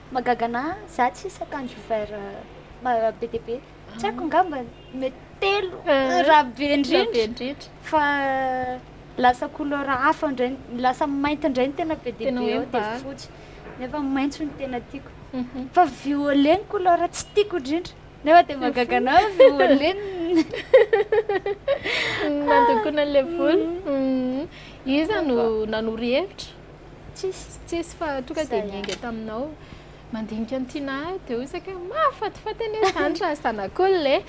Mahagaga ana za tsisy akanjo vert be dia be tsy haiko ngamba mety telo raha be indrindra fa lasa couleur hafa ndray lasa mainty ndray ny tena be dia be dia fotsy nefa maintso ny tena tiako mhm. fa violet ny couleur tsy tiako indrindra nefa dia mahagaga ana violet nandokona an'ilay volo mhm. iza no nanoro hevitra Tsisy, tsisy fa tonga dia niainga taminao. Mandinika an'i Tiana aho dia hoy isika hoe mahafatifaty anie izany raha zanak'olona e.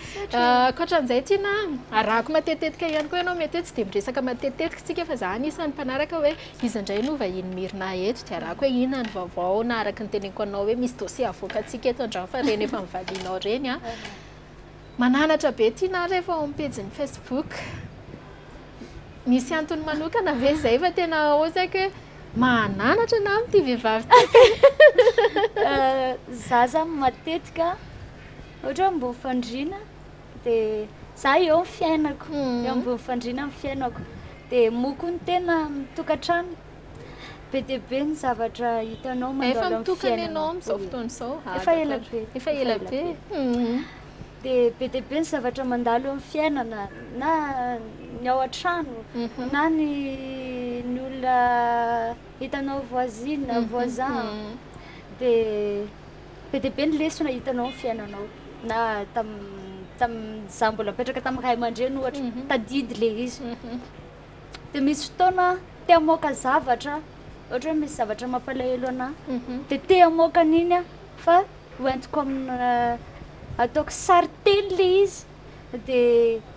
Ankoatran'izay Tiana, arahako matetitetika ihany koa ianao. Mety hoe tsy dia miresaka matetitetika isika fa izaho anisan'ny mpanaraka hoe iza indray no vahiny mirina eto dia arahako hoe inona ny vaovao na araka ny teneniko anao hoe misy dossier havoakantsika eto an-drano fa ireny efa novalianao ireny an. Mananatra be ity nara efa ao amin'ny pejiny facebook. Misy antony manokana ve izay fa tena hozaiko hoe mahananatra na amin'ity vehivavy ity ka. Za zany matetika ohatra hoe ambony fandriana dia za eo amin'ny fiainako, eo ambony fandriana amin'ny fiainako. Dia moa koa ny tena amin'ny tokantrano. Be dia be ny zavatra hitanao mandalo amin'ny fiainana. Efa mitokana ianao amin'izao fotoana izao? Efa ela be. Efa ela be. Dia be dia be ny zavatra mandalo eo amin'ny fiainana na ny ao an-trano mhm. na ny ny olona hitanao voisine, mhm. voisin. Mhm. Dia be dia be ny lesona hitanao amin'ny fiainanao na tamin'ny tamin'ny za mbola mipetraka tamin'ny ray aman-dreny ohatra, tadidy ilay izy. de misy fotoana te hamoaka zavatra ohatra hoe misy zavatra mampalahelo anah de te hamoaka an'iny ah fa hoentiko amina ataoko sary teny le izy de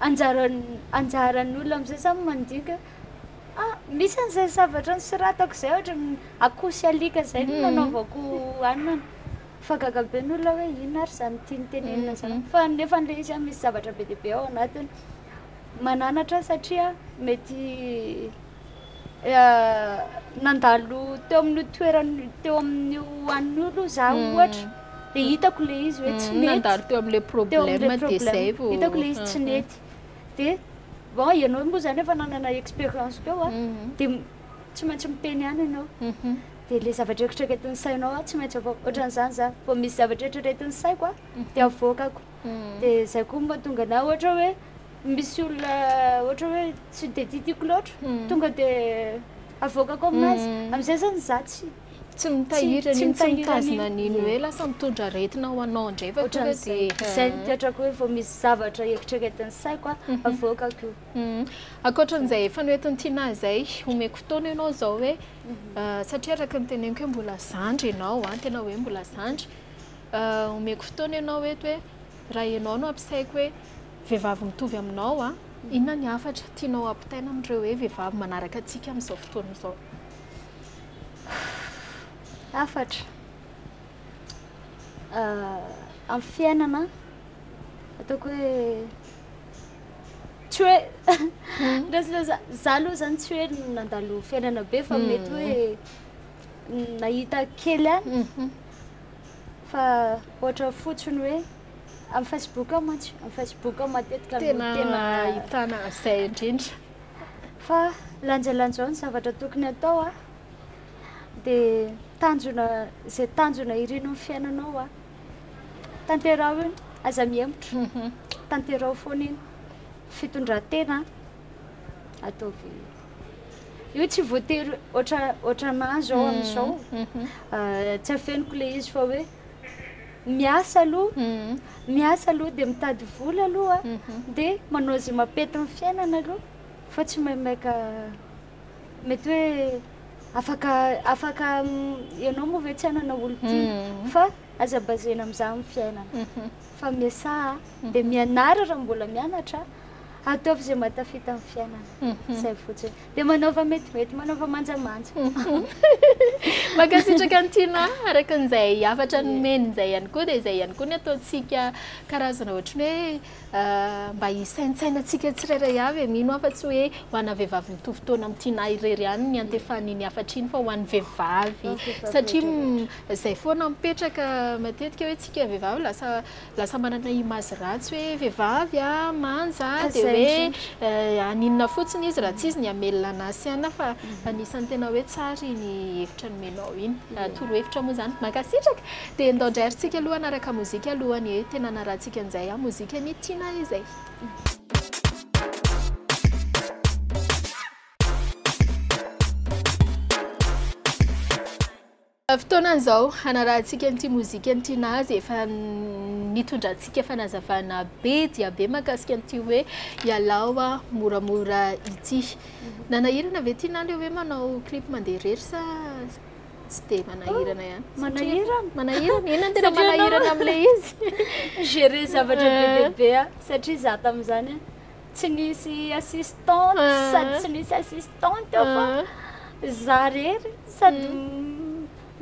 anjaran- anjaran'olo am'zay zany mandinika hoe ah misy an'zay zavatra nosoratako zay ohatra akoho sy alika zay no nanaovako hanina fa gaga be ny olona hoe inona ary zany tiany tenenina zany fa nefany le izy ah misy zavatra be dia be ao anatiny Mananatra satria mety nandalo teo amin'io toerana teo amin'io anio aloha za hmm. ohatra de hitako le izy hoe tsy hmm, mety nandalo teo amin'le problème de zay vao hitako le izy tsy hmm, mety de bon ianao moa zany efa nanana expérience teo a de tsy maintsy miteny ihany ianao de le zavatra eritreretin'ny sainao a tsy maintsy avoaka ohatran'izany za vao misy zavatra eritreretin'ny saiko a de avoakako de zay koa mahatonga na ohatra hoe misy olona ohatra hoe tsy de titiko loatra tonga de avoakako aminazy amizay zany za tsy tsy mitahiry an'iny tsy mitazona an'iny hoe lasa mitondra aretina ho anao andrefana tonga de zay ny toetrako hoe vao misy zavatra eritreretin'ny saiko a avoakako io ankoatran'izay efa noetin'ny Tina zay omeko fotoana ianao zao hoe satria araka ny teneniko hoe mbola zandry ianao a tena hoe mbola zandry Omeko fotoana ianao eto hoe raha ianao no ampisaiko hoe vehivavy mitovy aminao a, inona ny hafatra tianao hampitaina amin'ireo hoe vehivavy manaraka antsika amin'izao fotoana izao? Hafatra amin'ny fiainana ataoko hoe tsy hoe za aloha zany tsy hoe nandalo fiainana be fa mety hoe nahita kely any Fa ohatra fotsiny hoe amin'ny Facebook ao mantsy, amin'ny Facebook ao matetika no tena tena ahitana izay indrindra. Fa lanjalanjao ny zavatra tokony atao a. Dia tanjona izay tanjona irino amin'ny fiainanao a. Tanteraho iny, aza mihemotra. Mhm. Tanteraho foana iny. Fitondran-tena ataovy. Io tsy voatery ohatra ohatra anahy zao amin'izao tsy afeniko le izy fa hoe miasa aloha miasa aloha dia mitady vola aloha dia manao izay mampety ny fiainana aloha fa tsy maimaika mety hoe afaka afaka ianao moa ve tsy hanana olon-tiana fa aza baser-na amin'izany ny fiainana fa miasa dia mianara raha mbola mianatra Ataovy izay mba tafita amin'ny fiainana. Mhm. Izay fotsiny. Dia manaova metimety, manaova manjamanja. Mhm. Mankasitraka ny Tina, araka an'izay hafatra nomeny izay ihany koa, dia izay ihany koa ny ataontsika karazana ohatry ny hoe euh, mba hisaintsainantsika tsirairay avy e, mino aho fa tsy hoe ho ana vehivavy mitovy taona amin'ny Tina irery ihany ny antefan'iny hafatra iny fa ho an'ny vehivavy. Satria izay foana mipetraka matetika hoe tsika vehivavy lasa Lasa manana image ratsy hoe vehivavy a, manja a, dia hoe haninona fotsiny izy raha tsy izy ny hamelona an'i Asiana fa anisan'ny tena hoe tsara iny hevitra nomenao iny, torohevitra moa izany. Mankasitraka. Dia ndao indray ary tsika aloha hanaraka mozika aloha ny hoe tena hanarahantsika an'izay a, mozika ny tiana izay. Fotoanan'izao hanarahantsika an'ity mozika an'ity Nazy efa nitondrantsika fanazavana be dia be mahakasika an'ity hoe ialao aho moramora ity. Nanahirana ve ity Naly hoe manao clip mandeha irery sa tsy dia manahirana ihany? Oh, manahirana. Manahirana. Inona tena manahirana amin'ilay izy? Gérer zavatra be dia be satria za tamin'izany tsy nisy assistant sady tsy misy assistant eo fa za rery sady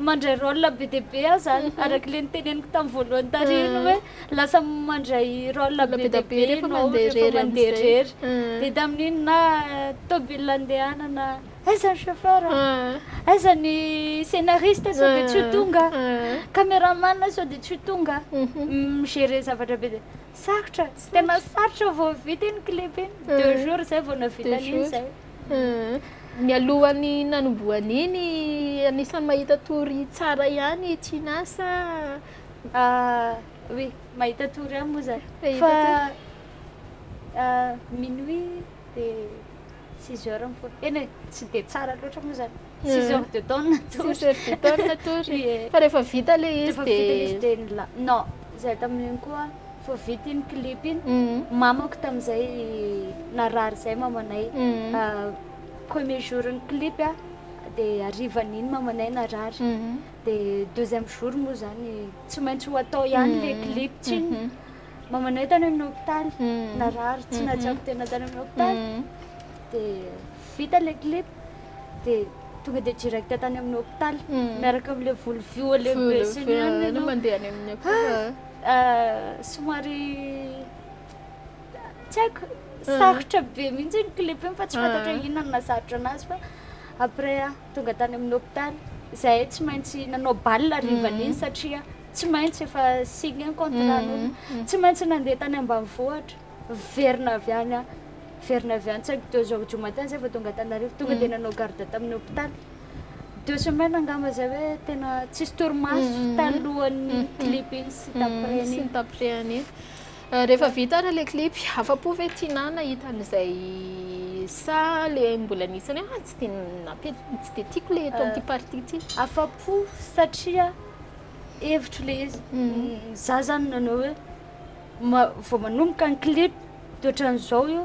mandray rôle be dia be aho zany araka le niteneniko tamin'ny voalohany tary iny hoe lasa mandray rôle be dia be ianao rehefa mandeha rery dia tamin'iny na tôbile andehanana aiza ny chauffeur aiza ny scénariste sao dia tsy ho tonga cameraman sao dia tsy ho tonga mi-gérer zavatra be dia Sarotra, tsy tena sarotra vao vita iny clip iny, deux jours zay vao navita an'iny zay. Nialohan'ny nanombohana iny, anisan'ny mahita tory tsara ihany i Tina sa? Oui, mahita tory ihany moa zah. Fa minuit dia six heures mifoha. Eny e, tsy dia tsara loatra moa zany. Six heures de temps natory. Six heures de temps natory. Ie. Fa rehefa vita le izy Rehefa vita le izy de. dia nila- non zay tamin'iny koa vao vita iny clip iny Mhm. mamako tamin'izay narary zay mamanay Mhm. Ah, premier jour ny clip a de harivan'iny mamanay narary Mhm. de deuxième jour moa zany tsy maintsy ho atao ihany le Mhm. clip tsinona Mhm. mamanay tany amin'ny hôpitaly Mhm. narary tsy Mhm. nahatsapy tena tany amin'ny hôpitaly Mhm. de vita le clip dia tonga dia direct tany amin'ny hôpitaly miaraka amin'ilay volo vy olé besiny ihany ianao. Mandeha any amin'ny akofa. Somary tsy haiko sarotra be mihitsy ny clip iny fa tsy fantatra inona no nahasarotra anazy fa après tonga tany amin'ny hôpitaly izahay tsy maintsy nanao bal harivan'iny satria tsy maintsy efa signé ny contrat-n'olona tsy maintsy nandeha tany ambanivohitra. Niverina avy any aho, niverina avy any, tsy haiko deux heures du matin zay vao tonga Antananarivo, tonga dia nanao garde tamin'ny hôpitaly, deux semaines angamba izay hoe tena tsisy torimaso talohan'ny clip iny sy taprès iny. Sy ny taprès iny. Rehefa vita ary ilay clip, afa-po ve Tinah nahita an'izay sa ilay mbola nisy hoe ah tsy dia nampe- tsy dia tiako ilay eto amin'ity partie ity? Afa-po satria hevitro ilay izy. Izaho izany nanao hoe vao manomboka ny clip dia ohatran'izao io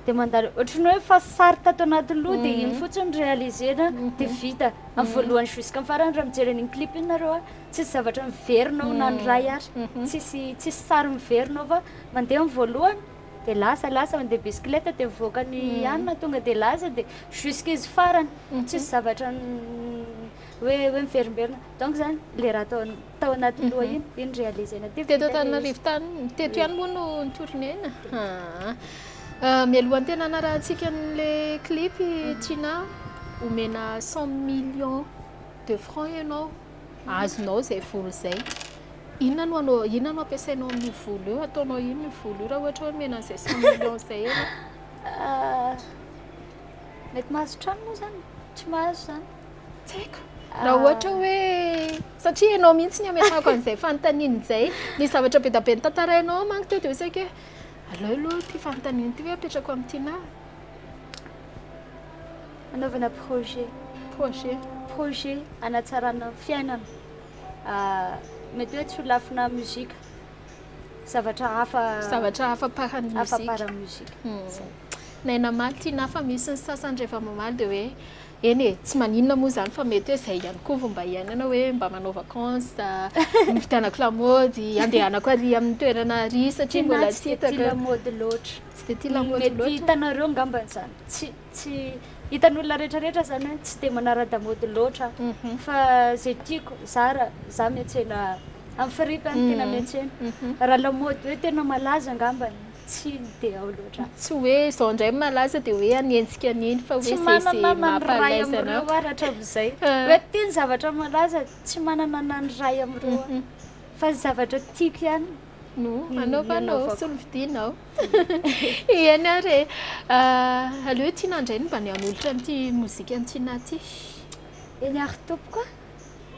dia mandalo ohatran'ny hoe efa sary tato anaty loha dia iny fotsiny réaliser-na dia vita amin'ny voalohany jusqu'à ny farany raha mijery an'iny clip iny nareo a tsisy zavatra miverina ao na ny iray ary tsisy tsisy sary miverina ao fa mandeha amin'ny voalohany dia lasa lasa mandeha bisikileta dia mivoaka ny hanina tonga dia lasa dia jusqu'à izy farany tsisy zavatra hoe hoe miverimberina donc izany le raha ataon'ny Tao anaty loha mhm. iny, iny réaliser-na teo. Teto Antananarivo tany, teto ihany moa no nitourner-na. Euh, mialohan'ny tena anarahantsika an'le clip mhm. Tina, omena 100 millions de francs ianao, mhm. azonao zay vola zay. Inona no anao, inona no ampiasainao amin'io vola io, ataonao inona io vola io raha ohatra hoe omena an'izay 100 millions zay ianao? Euh, mety mahazo trano moa zany, tsy mahazo zany. Tsy haiko. Raha ah. ohatra hoe satria ianao mihitsy ny ametrahako an'izay fanontaniana izay. Ny zavatra be dia be nitantarainao manko teo dia saika hoe aleo aloha ity fanontaniana ity hoe apetrako amin'ny tiana. Anaovana projet. Projet. Projet anatsarana ny fiainana. Ah, mety hoe tsy ho lafina muzika. Zavatra hafa. Zavatra hafa paran'ny muzika. Hafa paran'ny muzika. Hmm. Naina mafy tiana hafa misy ny sasany rehefa mamaly dia hoe Eny e, tsy maninona moa izany fa mety hoe izay ihany koa fomba hiainana hoe mba manao vacance, novidianako lamaody, andehanako ary amin'ny toerana ary satria mbola tsy hitako. Tsy dia tia lamaody loatra. Tsy dia tia lamaody loatra. Mety hitanareo angambany izany. Tsy tsy hitan'olona rehetrarehetra izany hoe tsy dia manara-damaody loatra aho. Fa izay tiako, zara, za miantsena amin'ny farihy fa ny tena miantsena. Raha lamaody hoe tena malaza angambany, tsy dia ao loatra. Tsy hoe izao indray malaza dia hoe any hetsika any iny fa hoe izay izay mampalaiza anao. Tsy manana ny ray amin'ireo aho rahatran'izay. Hoe ity ny zavatra malaza, tsy manana ny ray amin'ireo aho. Fa ny zavatra tiako ihany no anaovanao sy no vidianao. Eny ary e. Ah, aleo ity nandray ny mba ny hanolotra an'ity mozika an'i Tiana ity. Eny ary tompoko a.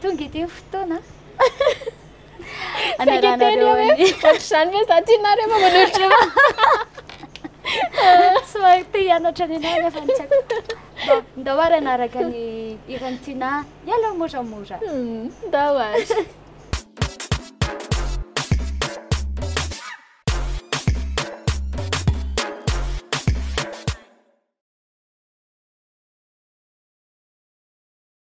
Tonga ity ny fotoana a. Saika teny eo hoe ohatr'izany ve za tianareo fa manolotra Tsy mahay te hianatra ny anay nefa tsy haiko. Bon, ndao ary hanaraka ny hiran'i Tina Mialao moramora. Hmm, ndao ary.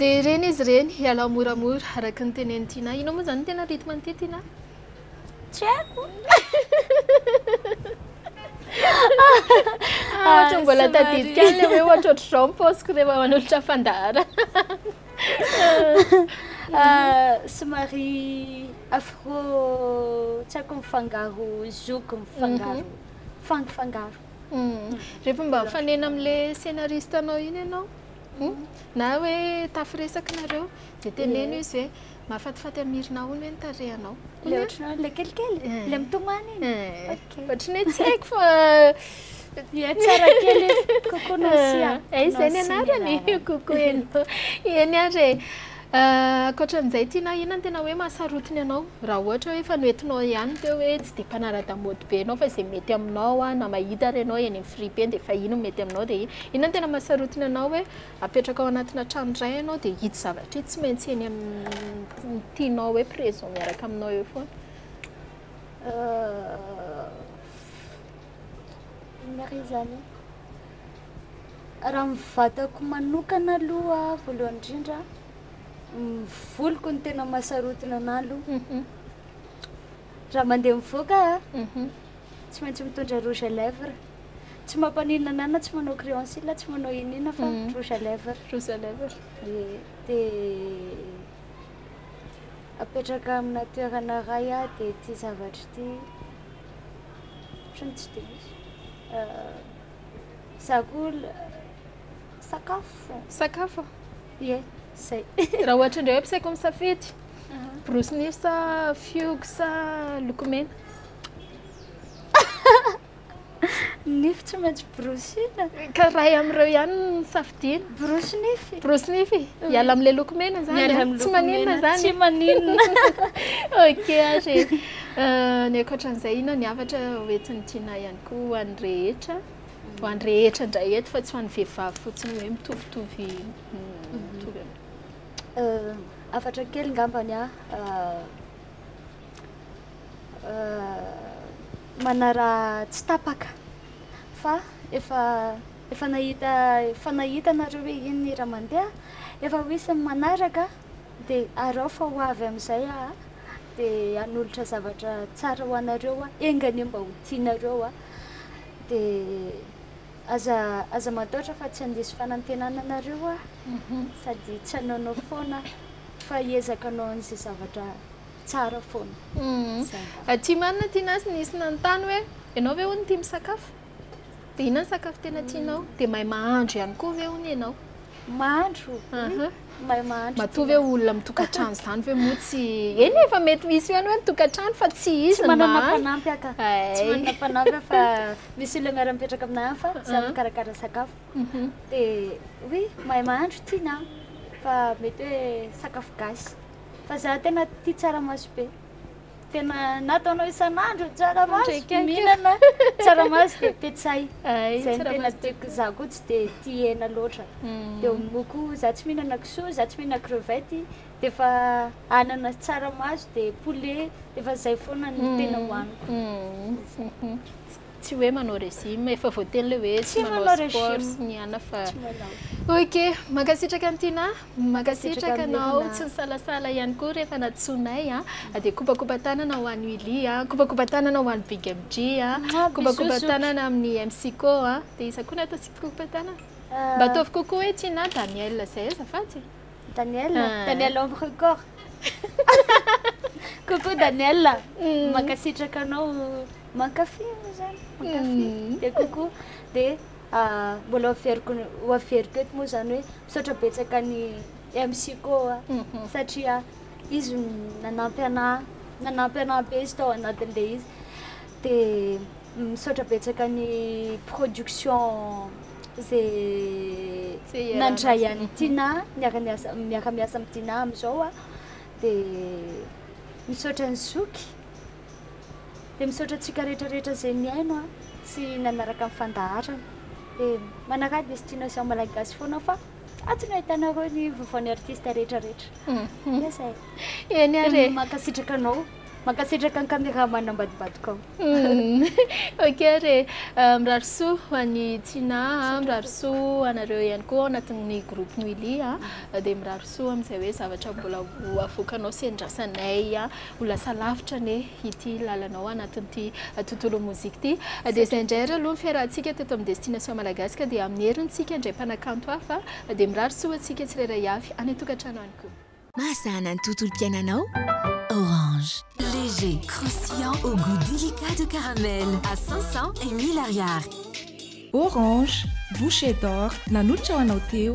Dia ireny izy ireny, ialao moramora, araka ny tenenin'i Tiana. Ianao moa izany no tena rythme an'ity Tiana a? Tsy haiko. Ah, ohatra ah, mbola tadidika an'ilay hoe ohatrohatr'izao ny paosiko rehefa manolotra fandaharana. Ah, somary afro tsy haiko mifangaro zoky mifangaro mhm. fangifangaro. Mhm. Rehefa mba mifanena amin'ilay scénariste anao iny ianao hmm? mhm. na hoe tafiresaka nareo dia teneno izy hoe Mahafatifaty amin'ny hirina ahoana hoe ny tarehanao? Ilay ohatranao ilay kelikely? Ilay mitomany iny? Ok. Ohatran'ny hoe tsy haiko fa Ie tsara kely izy. Coucou Nansia. Eh, izay ny anarany. Coucou hello. Eny ary e. Ah, ankoatran'izay Tina, inona no tena hoe mahasarotiny anao? Raha ohatra hoe efa noentinao ihany teo hoe tsy dia mpanara-damaody be ianao fa izay mety aminao na mahita ary ianao eny amin'ny fripe eny dia efa iny no mety aminao dia iny. Inona no tena mahasarotiny anao hoe Apetraka ao anatina trano iray ianao dia ito zavatra ito tsy maintsy eny amin'ny tianao hoe présent miaraka aminao eo foana. Inona re izany e? Raha ny vatako manokana aloha voalohany indrindra, ny voloko no tena mahasarotina anahy aloha. Raha mandeha mivoaka aho, tsy maintsy mitondra rouge à lèvres. Tsy mampaninona anà na tsy manao crayon cils na tsy manao inona fa rouge à lèvres. Rouge à lèvres. Ie, dia apetraka amina toerana iray aho dia ity zavatra ity ohatran'ny tsy dia misy. Izaho koa sakafo. Sakafo? Ie, izay. Raha ohatra indray hoe ampisaiko misafidy, borosy nify sa fihogo sa lokomena? Ny nify tsy maintsy borosina. Ka iray amin'ireo ihany no nosafidiana. Borosy nify. Borosy nify. Miala amin'ilay loko mena izany. Miala amin'ny loko mena. Tsy maninona izany. Tsy maninona. Ok ary e. Ny ankoatran'izay inona ny hafatra hoentin'i Tinah ihany koa ho an'ny rehetra? Ho an'ny rehetra indray eto fa tsy ho an'ny vehivavy fotsiny hoe mitovitovy mitovy amin'ny. Hafatra kely angambany aho. manara tsy tapaka fa efa efa nahita efa nahita nareo hoe iny ny raha mandeha efa ho isan'ny manaraka de arao fa ho avy amin'izay aho de hanolotra zavatra tsara ho anareo aho enga anie mba ho tianareo aho de aza aza mataotra fa tsy handiso fanantenana anareo aho sady tsy hanaonao foana fa hiezaka hanao an'izay zavatra Tsara foana. Zay. Aty marina aty nazy nisy nanontany hoe ianao ve hono tia misakafo? Dia inona ny sakafo tena tianao? Dia mahay mahandro ihany koa ve hono ianao? Mahandro. Aha. Mahay mahandro. Matoa ve olona mitokantrano izany ve moa tsy eny efa mety misy ihany hoe mitokantrano fa tsy izy Tsy ny manana mahandro. mpanampy aho ka. Ay. Tsy manana mpanampy aho fa misy olona miara-mipetraka aminà hafa samy Ah. mikarakara sakafo. Mhm. Dia hoe mahay mahandro tiana an, fa mety hoe sakafo gasy. Fa za tena tia tsaramaso be. Tena na ataonao isan'andro ny tsaramaso, mihinana tsaramaso dia petsay. Izay no tena tiako. Za koa tsy dia tia hena loatra. Mm. Dia moa koa za tsy mihinana kisoa, za tsy mihinana crevette, dia efa anana sy tsaramaso dia poulet, dia efa izay foana no mm. tena hohaniko. Mm. Tsy hoe manao régime, efa voateny le hoe tsy manao sport sy ny ana fa ok, mankasitraka an'i Tina, mankasitraka anao tsy nisalasala ihany koa rehefa nantsoinay an, ah, dia kopakopa tanana ho an'i Willy an, kopakopa tanana ho an'i Big MJ an, kopakopa tanana amin'ny MC Ko an, dia iza koa natao tsy kopakopa tanana? Mba ataovy kokoa hoe Tina, Daniel, izay azafady. Daniel ah. Daniel homme record coucou Daniel mm. mankasitraka anao mankafy zany mankafy mm. de coucou de ah, mbola averiko ho averiko eto moa zany hoe misaotra betsaka ny MC koa mm-hmm. satria izy nanampy ana nanampy ana be izy tao anatin'le izy de misaotra betsaka ny production izay nandray an'i Tina niara-miasa miara-miasa amin'i Tina amin'izao a dia misaotra an'i Zoky dia misaotra antsika rehetrarehetra izay nihaino a sy nanaraka ny fandaharana dia manaraha destination malagasy foana fa atsy no ahitanareo ny vaovaon'ny artista rehetrarehetra dia izay eny ary e mankasitraka anao Mankasitraka ny cameraman ambadimbadikao. Humm ok re. Mirary soa ho an'i Tina a, mirary soa ho anareo ihany koa ao anatin'ny groupe Noelia a. Dia mirary soa amin'izay hoe zavatra mbola ho avoakanao sy andrasanay a. Ho lasa lavitra anie ity lalanao ao anatin'ity tontolon'ny mozika ity. Dia izay indray ary aloha ny fiarahantsika teto amin'ny Destination Malagasy ka dia amin'ny herintsika indray mpanakanto hafa dia mirary soa ho antsika tsirairay avy any an-tokantrano any koa. Mahasahana ny tontolom-piainanao. Orange. Léger, croustillant au goût délicat de caramel à 500 et 1000 Ariary. Orange, bouche d'or, nanolotra ho anao teo.